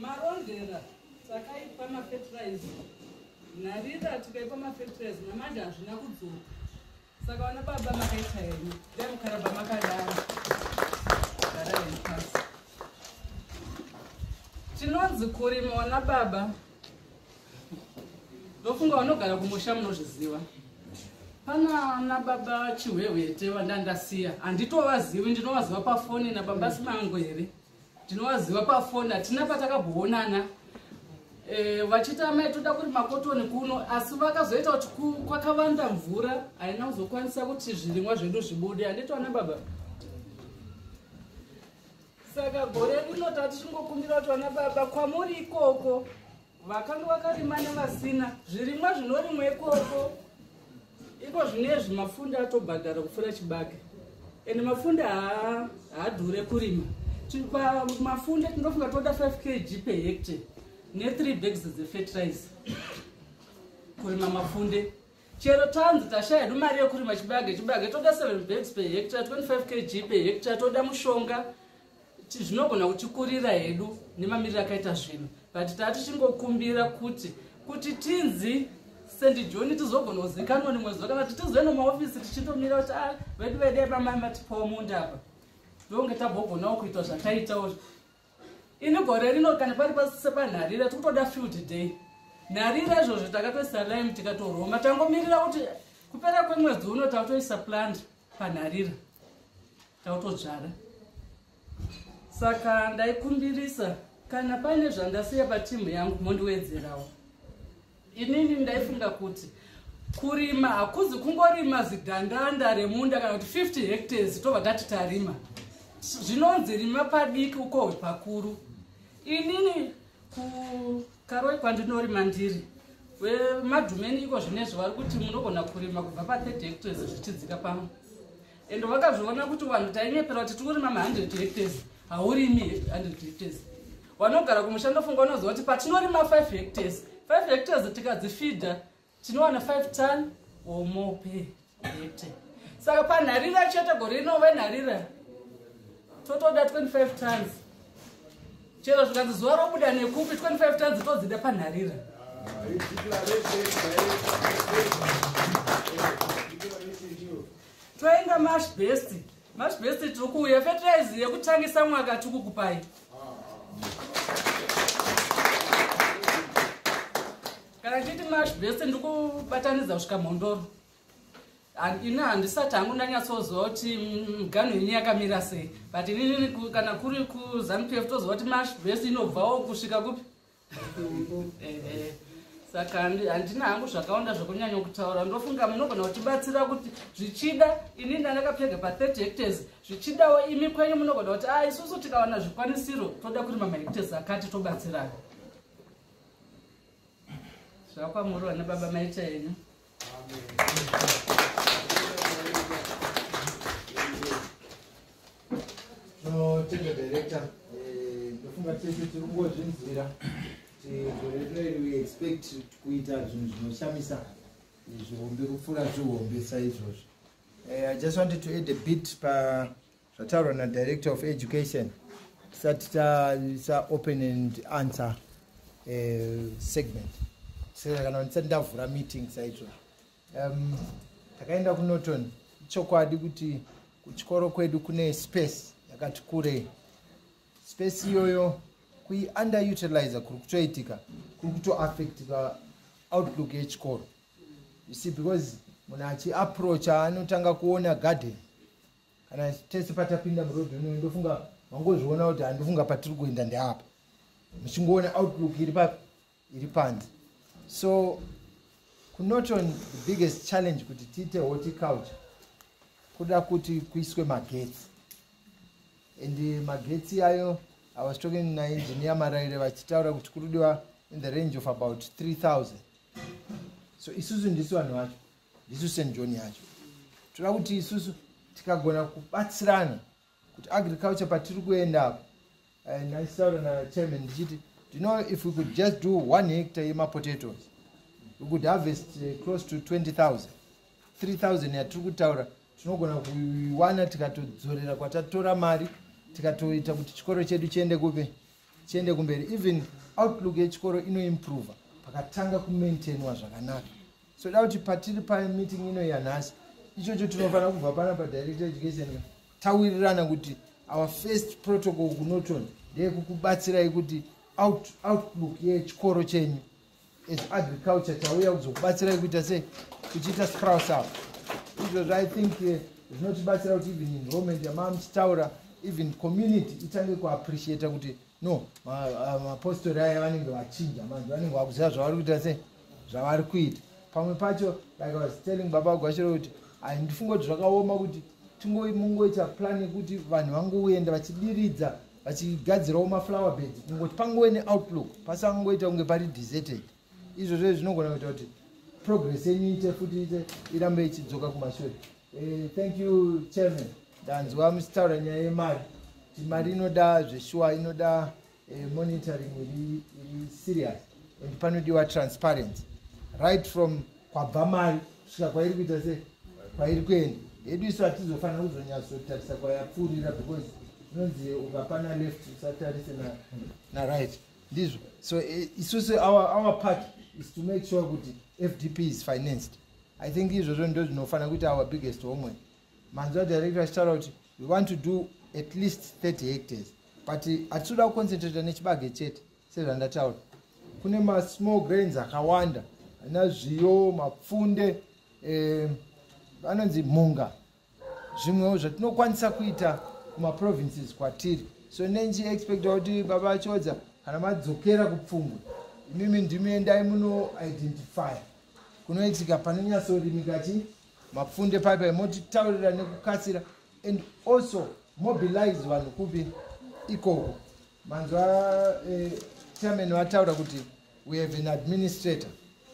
Marondera takaipa mafetiraiza nharira tikaipa mafetiraiza namanje hazvina kudzoka saka vana baba makaita henyu dai mukaraba makadaro garaipasi tinonzi kurima wana baba ndofunga vanogara kumusha munozviziva pana nababa chihwehwete vandandasiya handitovazivi ndinovaziva pafoni nababa simangwere ndinovaziva pafoni hatina patakabhoonana eh, vachiti amai toda kuri makotoni kuno asi vakazoita kuti kwakavanda mvura haina kuzokwanisa kuti zvirimwa zvedu zvibude handiti vana baba saka gore rino tati tingokumbira kuti vana baba kwamuri ikoko Vakanga vakarima nevasina zvirimwa zvinorimwa ikoko iko zvinezvi mafunda atobhadhara kupfuura chibage ende mafunda haadhure kurima mafunda tinofunga toda 5 kg per hectare ne3 bags dzefertilizer kurima mafunde chero tanzi tashaya hedu mari yekurima chibage chibage toda 7 bags per hectare 25 kg per hectare toda mushonga zvinogona kutikurira hedu nemamiriro akaita zvinhu but taa tichingokumbira kuti kuti tinzi sendi joni tizogona kuzikanwa nimwe zuva kana kuti tizoenda mumaofisi tichindomira kuti a ah, vedu vede pamai matipawo munda apa ndonge tabogonawo kuita zvataitawo ini gore rino kana pari pasepanharira tikutoda field day nharira izvozvo takatoisa lime tikatoroma tangomirira kuti kupera kwemwedzi uno takutoisa plant panharira tautodzvara saka ndaikumbirisa kana paine zvandasiya patimu yangu mondiwedzerawo inini ndaifunga kuti kurima hakuzi kungorima zigandanda remunda kana kuti 50 hectares tobva tati tarima zvinonzi rima padiki ukohwe pakuru inini kukaroi kwandinorima ndiri vemadhumeni iko zvinezvi vari kuti munogona kurima kubva pa30 hectares zvichidzika pamwe ende vakazviona kuti vanhu tainyepera kuti tikurima ma100 hectares haurimi 100 hectares vanogara kumushando funga unoziva kuti patinorima 5 hectares 5 hectares tikadzifida tinowana 5 ton or more per hectare saka panharira chete gore rino venharira totoda 25 tons chero zvikanzi zuva robuda nekupi 25 tons todzida panharira toenda mashbest mashbest tiri kuuya fetiraizi yekutangisa mwaka tikukupai kana ndichiti mash best ndikubatanidza kusvika mhondoro ini handisati hangu ndanyatsoziva kuti mgano mm, yenyu yakamira sei but inini kana kuri kuzanu pf toziva kuti mash best inobvawo kusvika kupi eh, eh. saka handina hangu zvakawanda zvekunyanya kutaura ndofunga munogona kutibatsira kuti zvichida ini ndandakapfega pa30 hectors zvichidawo imi kwenyu munogona kuti a ah, isusu tikawana zvikwanisiro toda kurima mahectors akati tobatsirana zvakwamuri vana baba maita henyu notenda director eh, ndofunga tese tiri kungozvinzwira gore rino iri we expect kuita zvinhu zvinoshamisa zvihombe kupfuura zvihombe saizvozvo eh, i just wanted to add a bit pa zvataurwa nadirector of education tisati taisa open and answer uh, segment saka kana ndisati ndavhura meeting saizvo um, takaenda um, kunoton ichokwadi kuti kuchikoro kwedu kune space yakati kurei space iyoyo kuiunderutilizer kuri kutoitika kuri kutoaffectika outlook yechikoro you see because munhu achiapproacha anotanga kuona garden kana tese patapinda muroad ino ndofunga mangozviona kuti handofunga patiri kuenda ndeapa muchingoona outlook iri papi iri panze so kunoton the biggest challenge kuti tiite horticulture kuda kuti kuiswe magetsi and magetsi ayo i was talking naengineer maraire vachitaura kuti kurudiwa in the range of about 3000 so isusu ndisu vanhu vacho ndisu st john yacho toda kuti isusu tikagona kubatsirana kuti agriculture patiri kuenda apo eh, ndaisaura nachairman ndichiti you know if we could just do one hectare yemapotatoes we could harvest eh, close to 20000 3000 yatiri kutaura tinogona kuiwana tikatodzorera kwatatora mari tikatoita kuti chikoro chedu chiende kupi chiende kumberi even outlook yechikoro inoimprova pakatanga kumaintainwa zvakanaka soda kuti patiri pameeting ino yanhasi ichocho tinofanira kubva pana padirector education tawirirana kuti our first protocol kunoton ndeyekukubatsirai kuti outlook yechikoro chenyu as agriculture tauya kuzokubatsirai kuita sei kuchiita scrouse up izvozvo i think eh, zvinotibatsira kuti even enrollment yamaa muchitaura even community itange kuappreciata kuti no mapostori aya vanenge vachinja manje vanenge vakuziva zvavari kuita sei zvavari kuita pamwe pacho like was telling baba gwashiro kuti handifunga kuti zvakaoma kuti tingomungoita plan yekuti vanhu vangoenda vachidiridza vachigadzirawo maflower bed kungoti pangove neoutlook pasangoita kunge pari deserted izvozvo zvinogona kuita kuti progress yenyu ite futi ite irambe ichidzoka kumashure eh, thank you chairman ndanzwa muchitaura nyaya yemari kuti mari inoda zveshuwa inoda eh, monitoring iri iri serious and panodiwa transparency right from kwabva mari kusvika kwairi kuita se kwairi kuenda hedu isu hatizofanira kuzonyatsotarisa kwayapfuurira because inonzi ukapana left usatarise na, na right ndizvo so eh, isusu our, our part is to make sure kuti fdp is financed i think izvozvo ndo zvinofanira kuita our biggest homework manzwa director achitaura kuti we want to do at least 30 hectares but hatitoda kuconcentrata nechibage chete sezvandataura kune masmall grains akawanda ana zviyo mapfunde eh, anonzi eh, mhunga zvimwewo zvatinokwanisa kuita kumaprovinces kwatiri so nendichiexpecta kuti baba vachodza kana madzokera kupfungwe imimi ndimi endai munoidentifya kunoitika panonyatsorimika chii mapfunde pai pai motitaurira nekukasira and also mobilize vanhu kupi ikoko manzwa eh, chairman vataura kuti we have an administrator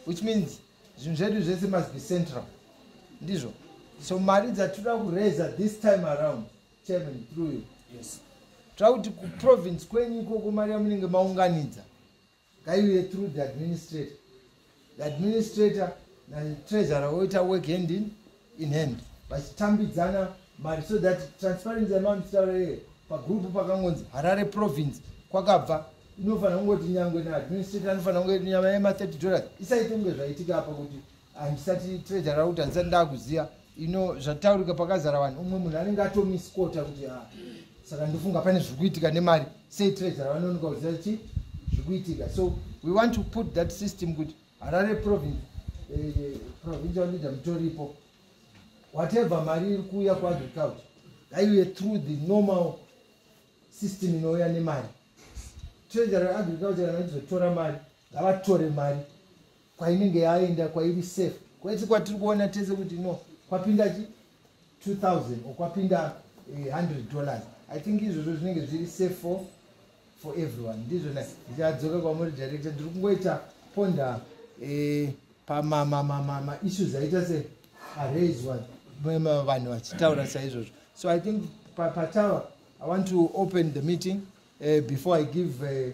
which means zvinhu zvedu zvese must be central ndizvo so mari dzatinoda kureza this time around chairman through you yes tira kuti kuprovince kwenyu ikoko mari yamunenge maunganidza ngaiuye through the administrator the administrator natreasurer voita work hand in, in hand vachitambidzana mari so that transparency yamamitaura iye pagrupu pakangonzi harare province kwakabva inofanira kungoti nyangwe naadministrator anofanira kunge nyama yema 30 dollars isaite kunge zvaitika apa kuti handisati treasure rakuti handisati ndakuziva ino zvataurika pakazara vanhu umwe munhu anenge atomiskota kuti ah, saka ndofunga pane zviri kuitika nemari sei treasure vanonoka kuziva kuti zviri kuitika so we want to put that system kuti harare province eh, provincial leader mutoripo whatever mari iri kuuya kuagriculture ngaiuye through the normal system inouya nemari treasury agriculture kana izotora mari ngavatore mari kwainenge yaenda kwairi safe kwese kwatiri kuona tese kuti no kwapinda chi 2000 or kwapinda 100 eh, dollars i think izvozvo zvinenge zviri safe for for everyone ndizvo na ndichadzoka kwamuri director ndiri kungoita ponda eh, pamamamamama issues aita se araiswa vanhu vachitaura saizvozvo so i think patawa pa i want to open the meeting uh, before i give uh,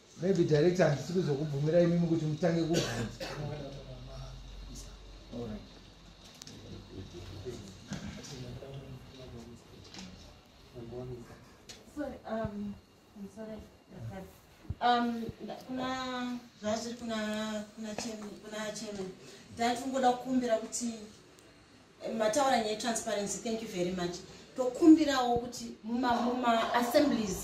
maybe director handisi kuzokubvumira imimi kuti mutange kubvunza Um, I'm sorry. Um, kuna zvazviri kuna kuna chairman kuna chairman ndati kungoda kukumbira kuti eh, mataura nyaya transparency thank you very much tokumbirawo kuti muma muma assemblies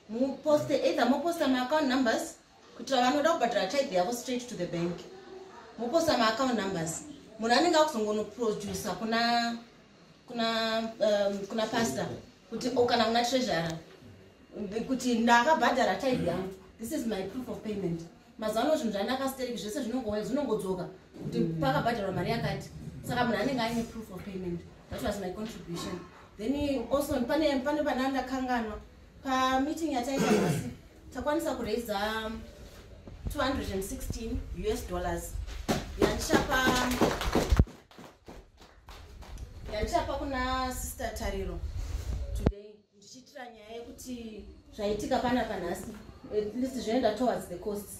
muposte either moposta maaccount numbers kuitira vanoda kubhadhara tithe yavo straight to the bank moposta maaccount numbers munhu anenge akuzongonoproducer kuna kuna um, kuna pastor kuti o oh, kana kuna treasure kuti ndakabhadhara tithe yangu this is my proof of payment mazuva ano zvinhu zvandakastereki zvese zvinongodzoka kuti mm. pakabhadharwa mari yakati saka munhu anenge aine proof of payment that was my contribution then also pane pane pana ndakanganwa pameeting yataita nhasi takwanisa kuraiza 216 us dollars yandichapa yandichapa kuna sister tariro today ndichiitira nyaya yekuti zvaitika panapa nhasi at least zvoenda towards the costs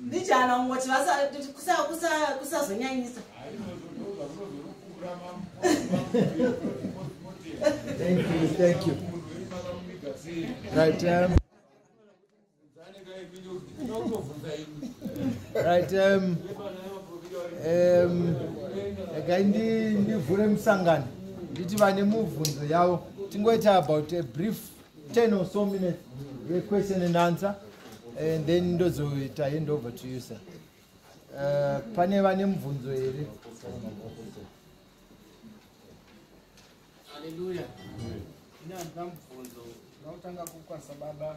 Ndijana ungoti kusazonyanyisa. Thank you, thank you. Right, um, right, um, um, regai ndivhure musangano nditi vane mubvunzo yavo tingoita about a brief 10 or so minutes the question and answer and then ndozoita hand over to you sir uh, pane vane mubvunzo here haleluya ine handina mubvunzo ndakutanga kukwanisa baba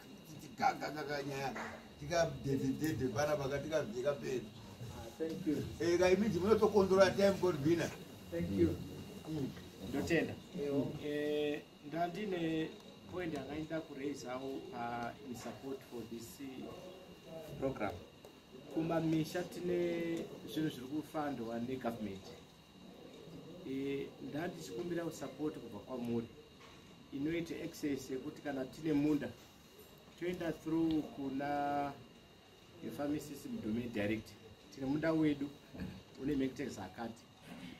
ndotenda eh, ndandine point akaita kuraisawo uh, in support for this program kumamisha tine zvinhu zviri kufandwa negovernment Eh, ndandichikumbira support kubva kwamuri inoita access yekuti kana tine munda toenda through kuna the farming system domain direct tine munda wedu une mectex akati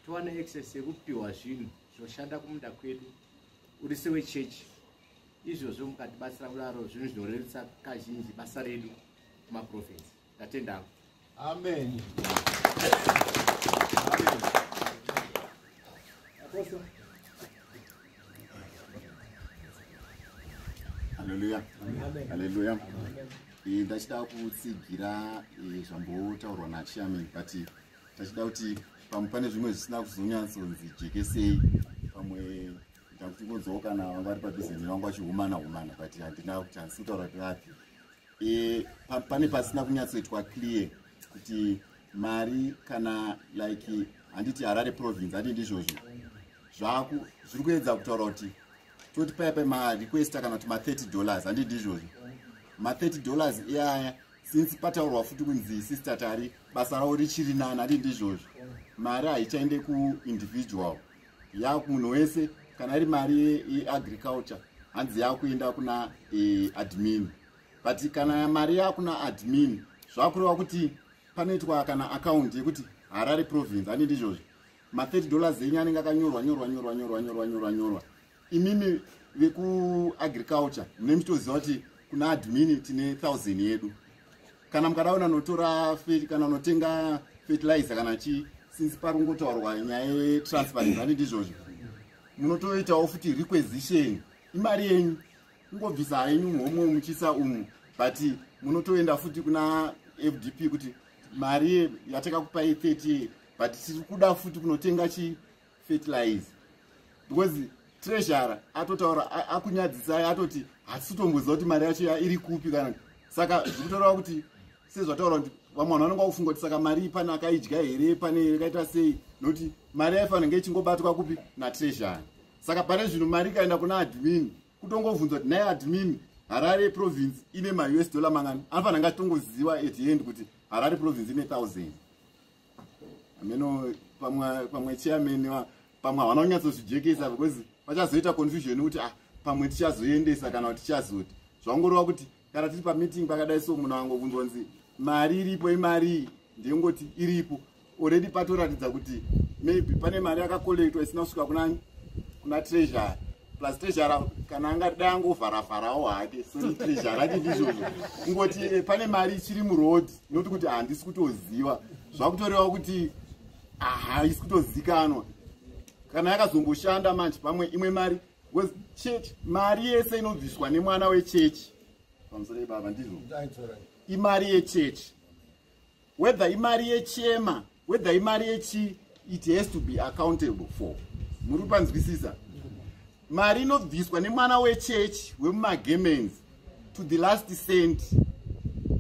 towana access yekupiwa zvinhu zvinoshanda kumunda kwedu uri sewe chechi izvozvo mukatibatsira kudaro zvinhu zvinorerutsa kazhinji basa redu kumaprovinsi ndatenda hangu amen haleluya haleluya eh, ndachida kutsigira eh, zvambotaurwa nachairman but ndachida kuti pamwe pane zvimwe zvisina kuzonyatsonzi jekesei pamwe ndakuti kunzwawo kana vanga vari padhuze nevangu vachihumana humana but handina kuti handisi kutaura kuti vapi e, pa, pane pasina kunyatsoitwa clear kuti mari kana like handiti harare province handi ndizvozvo zvaku zviri kuedza kutaura kuti toti paya pa marequest kana kuti ma30 dollars handi ndizvozvo ma30 dollars iyaya since pataurwa futi kunzi sister tari basa ravo richiri nani handi ndizvozvo mari haichaende kuindividual yaku munhu wese kana iri mari yeagriculture hanzi yakuenda kuna e, admin but kana mari yakuna admin zvakureva kuti panoitwa kana akaunti yekuti harare province ani ndizvozvo ma30 dollars enyu anenge akanyorwa nyorwa nyorwa nyorwa nyorwa nyorwa nyorwa imimi vekuagriculture mune muchitoziva kuti kuna admin tine thousand yedu kana mukada ona notora kana notenga fertilizer kana chii since pari kungotaurwa nyaya yetransparency ane ndizvozvo munotoitawo futi requisition imari yenyu kungobvisa henyu muhomwe muchisa umu but munotoenda futi kuna fdp kuti mari yatakakupai 30 but tiri kuda futi kunotenga chii fertilizer because treasurer atotaura akunyadzisai atoti hatisi kutomboziva kuti mari yacho iri kupi kana saka zvikutorawa kuti sezvataura kuti vamwe vanhu vanenge vakufunga kuti saka mari pane akaidya here pane yakaita sei nokuti mari yaifanira nge ichingobatwa kupi natreasury saka pane zvino mari ikaenda kuna admin kutongovhunzwa kuti naye admin harare province ine maus dollar mangani anofanira nge achitongoziva at the end kuti harare province ine thousand hameno pamwe pamwe chairman wa pamwe havana kunyatsozvijekesa because pachazoita confusion yekuti ah pamwe tichazoendesa kana kuti tichazoti zvangorova kuti kana tiri pameeting pakadai so munhu angobvunzwa nzi mari iripo imarii ndengoti iripo already patoratidza kuti maybe pane mari yakakolektwa isina kusvika kuna kuna treasury plus trezhara kana angadai angovharavharawo hake soni trezhara ake ndizvozvo kungoti eh, pane mari ichiri muroad noti kuti handisi kutoziva zvakutorewa kuti haisi kutozikanwa kana yakazongoshanda manje pamwe imwe mari was church mari yese inobviswa nemwana wechechi pamusoro ibaba ndizvo imari yechechi whether imari yechema whether imari yechi it has to be accountable for muri panzwisisa mari inobviswa nemwana wechechi wemumagemens to the last cent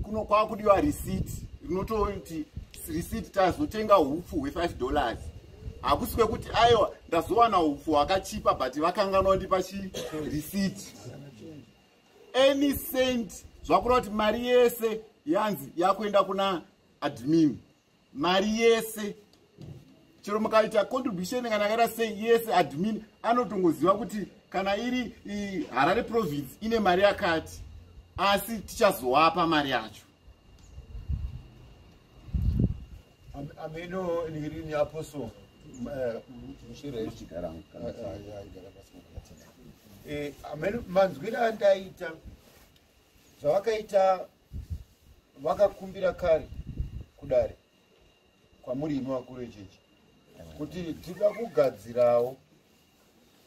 kuno kwava kudiwa receipt rinototi receipt tazotenga upfu hwe5 dollars hakusi kwekuti aiwa ndazowana upfu hwakachipa but vakanganwa ndipa chireceipt any cent zvakureva kuti mari yese yanzi yakuenda kuna admin mari yese chero mukaita contribution kana akaita sei yese admin anotongoziva kuti kana iri harare province ine mari yakati asi tichazowapa mari yacho ameno nirini apostle manzwira andaita zvavakaita vakakumbira kare kudare kwamuri imi vakuru echechi kuti tida kugadzirawo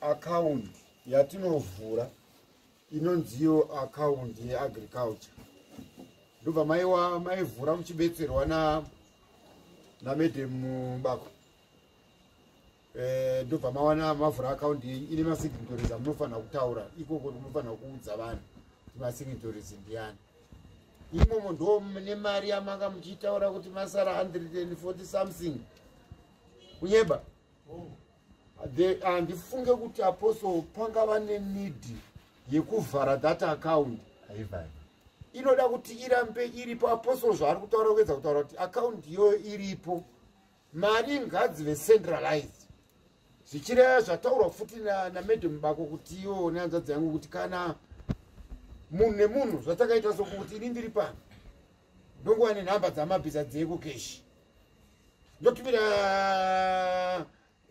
akaundi yatinovhura inonziyo account yeagriculture ndobva maiwa maivhura muchibetserwa na namadam bako eh, ndobva e, mawana mavhura account yenyu ine masignatories amunofanira kutaura ikoko munofanira kuudza vanhu kuti masignatories ndiyani imomo ndo mune mari yamanga muchiitaura kuti masara 140 something kunyeba oh. handifunge kuti apostle pangava nenid yekuvhara that account inoda kuti irambe iripo apostle zvaari kutaura kuedza kutaura kuti account iyoyo iripo mari ngadzive centralized zvichireva zvataurwa futi namadam bako kuti iwo nehanzvadzi yangu kuti kana munhu nemunhu zvatakaita sokuti ini ndiri pano ndonguva nenhamba dzamabhiza dzekukeshi ndotumira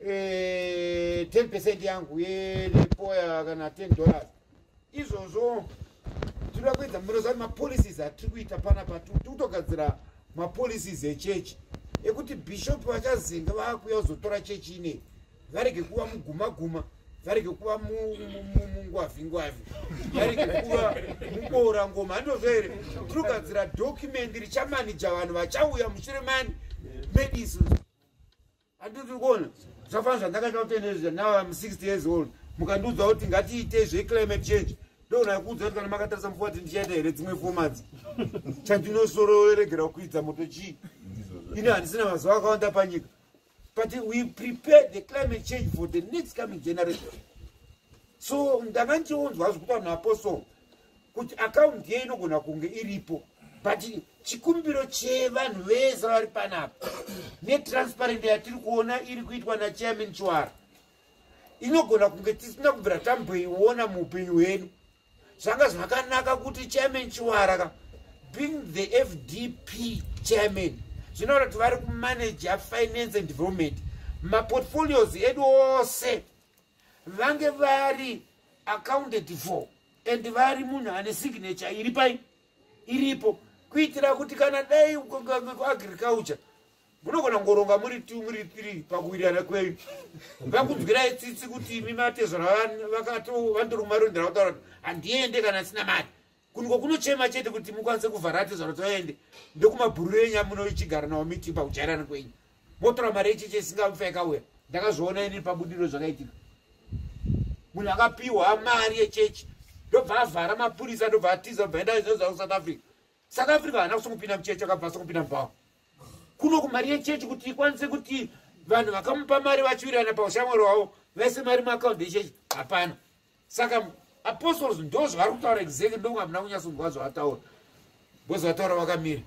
eh, 10 percent yangu yepoya kana 10 dollars izvozvo tinoda kuedza munoziva mapolicies atiri kuita panapa tiri kutogadzira mapolicies echechi ekuti bishop vachazinga vakuya kuzotora chechi inei varege kuva muguma guma varege kuva mungwavi ngwavi varege kuva muboora ngoma handozvo here tirogadzira document richamanija vanhu vachauya mushure mani medis handitiri kuona zvafana zvandakaita kutendeezva now im 60 years old mukandiudza kuti ngatiite zveclimate change ndogona kuudza kuti kana makatarisa mufua kuti ndichaita here dzimwe fomadzi chandinosorooregera kuidza moto chii ini handisina mazuva akawanda panyika but we prepare the climate change for the next coming generation so ndanga ndichionzwa zvekuti vanhu apostle kuti akaunti ye inogona kunge iripo but chikumbiro chevanhu vese vari panapa netransparent yatiri kuona iri kuitwa nachairman chwara inogona kunge tisina kubvira tamboiona muupenyu hwedu zvanga zvakanaka kuti chairman chiwara ka being the fdp chairman zvinoona kuti vari kumanaja finance and development maportfolios edu ose vange vari accounted for and vari munhu ane signature iri pai iripo kuitira kuti kana dai agriculture munogona kungoronga muri two muri three pakuwirirana kwenyu vakunzwirai tsitsi kuti imi matezvara vakatovandoruma rondera kutaura kuti handiende kana asina mari kuniko kunochema chete kuti mukwanise kuvhara atezvara toende ndokumabhururu enyu amunoichigara nawo miti pakujairana kwenyu motora mari yecheche isingafa yakauya ndakazviona ini pabudiro zvakaitika munhu akapiwa mari yechechi ndobva avhara mapurisa ndobva atiza ndobva enda zvinozva kusouth africa south africa haana kusokupinda muchechi akabva asokupinda mubhawa kuno kumari yechechi kuti ikwanise kuti vanhu vakamupa mari vachiwirirana paushamwari hwavo vaise mari muakaundi yechechi hapana saka apostles ndo zvavari kutaura exactly ndonge hamuna kunyasonzwa zvavataura bcause vataura vakamira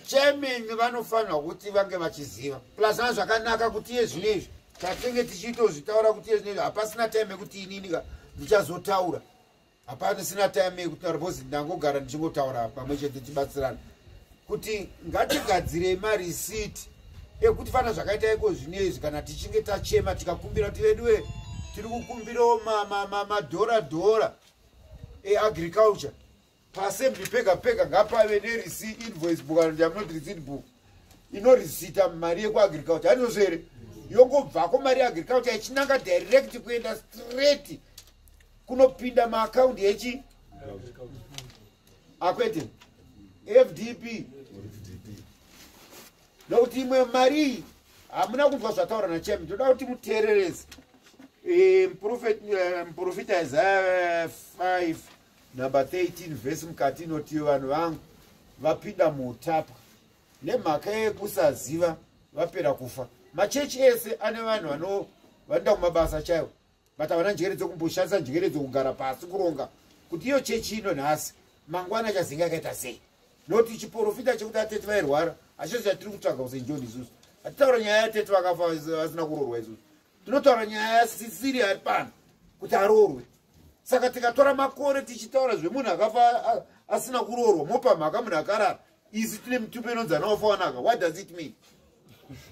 chairman vanofanirwa kuti vange vachiziva plus na zvakanaka kuti iye zvino izvi tatenge tichiitozvitaura kuti iye zvino izvi hapasina time yekuti inini ka ndichazotaura hapasina time yekutaura bcause ndangogara ndichingotaura pamwe chete tibatsirana kuti ngatigadzirei marisiti ekuti fana zvakaita iko zvino izvi kana tichinge tachema tikakumbira kuti veduwe tiri kukumbirawo madhora dhora eagriculture paassembly pega pega ngapave nereceipt invoice book and am not receipt book inorisita mari yekuagriculture hanizvo here yongobvako mari yeagriculture ichinanga direct kuenda straight kunopinda maakaundi echi akwete fdp nokuti imwe mari iyi hamuna kunzwa zvataura nachami toda kuti muteererese eh, muprofita eh, isaya 5 number 13 vhesi mukati inotiyo vanhu vangu vapinda muutapwa nemhaka yekusaziva vapera kufa machechi ese ane vanhu vano vanoenda kumabasa chaivo but havana njere dzekumboshandisa njere dzokugara pasi kuronga kuti iyo chechi ino nhasi mangwana chazinga akaita sei noti chiporofita chekuti atete vairwara hachizo chatiri kutsvaga kusenjoni isusu hatitaura nyaya yatete vakafa vasina kurorwa isusu Tinotaura nyaya yasisiri ari pano kuti aroorwe. Saka tikatora makore tichitaura zvemunhu akafa asina kuroorwa mopa mhaka munhu akarara isu tine mitupo inonzi anaofa wanaka what does it mean?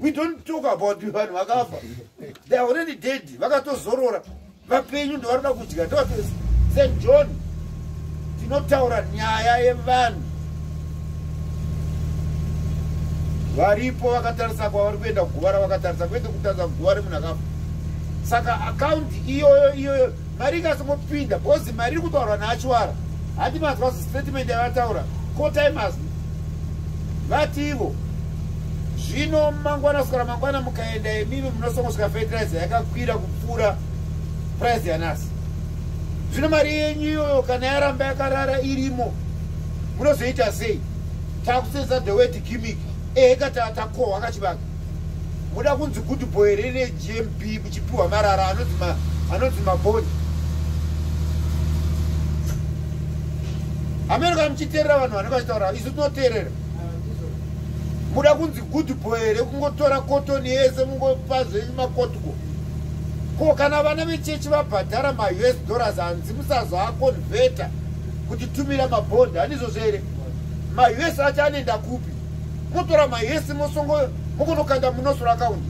We don't talk about vanhu vakafa. They are already dead. Vakatozorora. Vapenyu ndovanoda kudya. Ndovatozi St John tinotaura nyaya yevanhu varipo vakatarisa kwavari kuenda kuguva ravakatarisa kwete kutarisa kuguva remunhu akafa saka akaunti iyoyo iyoyo mari ikasongopinda bcoz mari iri kutaurwa naachwara hati mazwa statement yavataura kotai mazwi vati ivo zvino mangwana sukara mangwana mukaenda imimi munosongosvika fertilizer yakakwira kupfuura price yanasi zvino mari yenyu iyoyo kana yaramba yakarara irimo munozoita sei takusenza the word gimmick ehe kata takohwa kachivaka muda kunzi good boy here negmb muchipiwa marara anonzi maboni hameno kana muchiteerera vanhu vanenge vachitaura isu tinoteerera muda kunzi good boy here kungotora kotoni yese mungopa zvenyu makotiko ko kana vana vechechi vabhadhara maus dollars hanzi musazoaconveta kuti tumira mabhondi hanizvozvo here maus acho anoenda kupi motora maus mosongo mokonokanda munosoro akaundi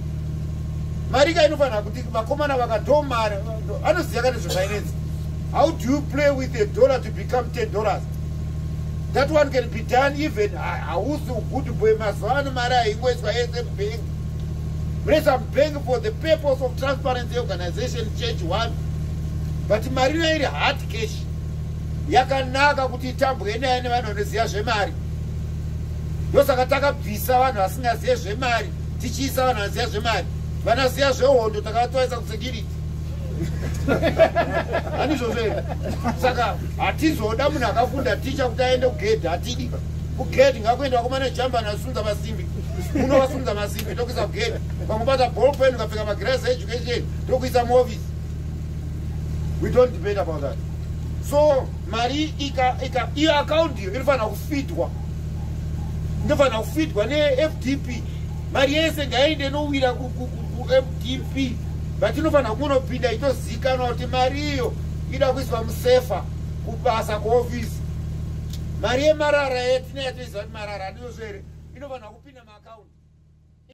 mari ka inofanira kuti vakomana vakatomari anoziva ka nezvefinance how do you play with a dollar to become ten dollars that one can be done even hausi ugood boy mazuva ano mari haingoiswa yese mubank Mresa Bank for the purpose of transparency organization change one but mari nairi hard cash yakanaka kuti itambwe naye nevanhu vanoziva zvemari ndosaka takabvisa vanhu vasingazive zvemari tichiisa vanhu vanoziva zvemari vanaziva zvehondo takavatoisa kusecurity hanizvozvo here saka hatizoda munhu akafunda ticha kuti aende kugedhi hatidi kugedhi ngakuenda kumana jamba nasunza vasimbi munovasunza masimbi tokuisa kugeda kwakubata bolpen ukapfeka magras education tokuisa movies we don't debate about that so mari iyo akaundi iyo inofanira kufitwa inofanira kufitwa nefdp mari yese ngaende inowira kufdp but inofanira kunopinda itozikanwa kuti mari iyo ida kuiswa musefa kubasa kuofisi mari yemarara yatinoyatoiziva kuti marara aniyozvo here inofanira kupinda maakaunti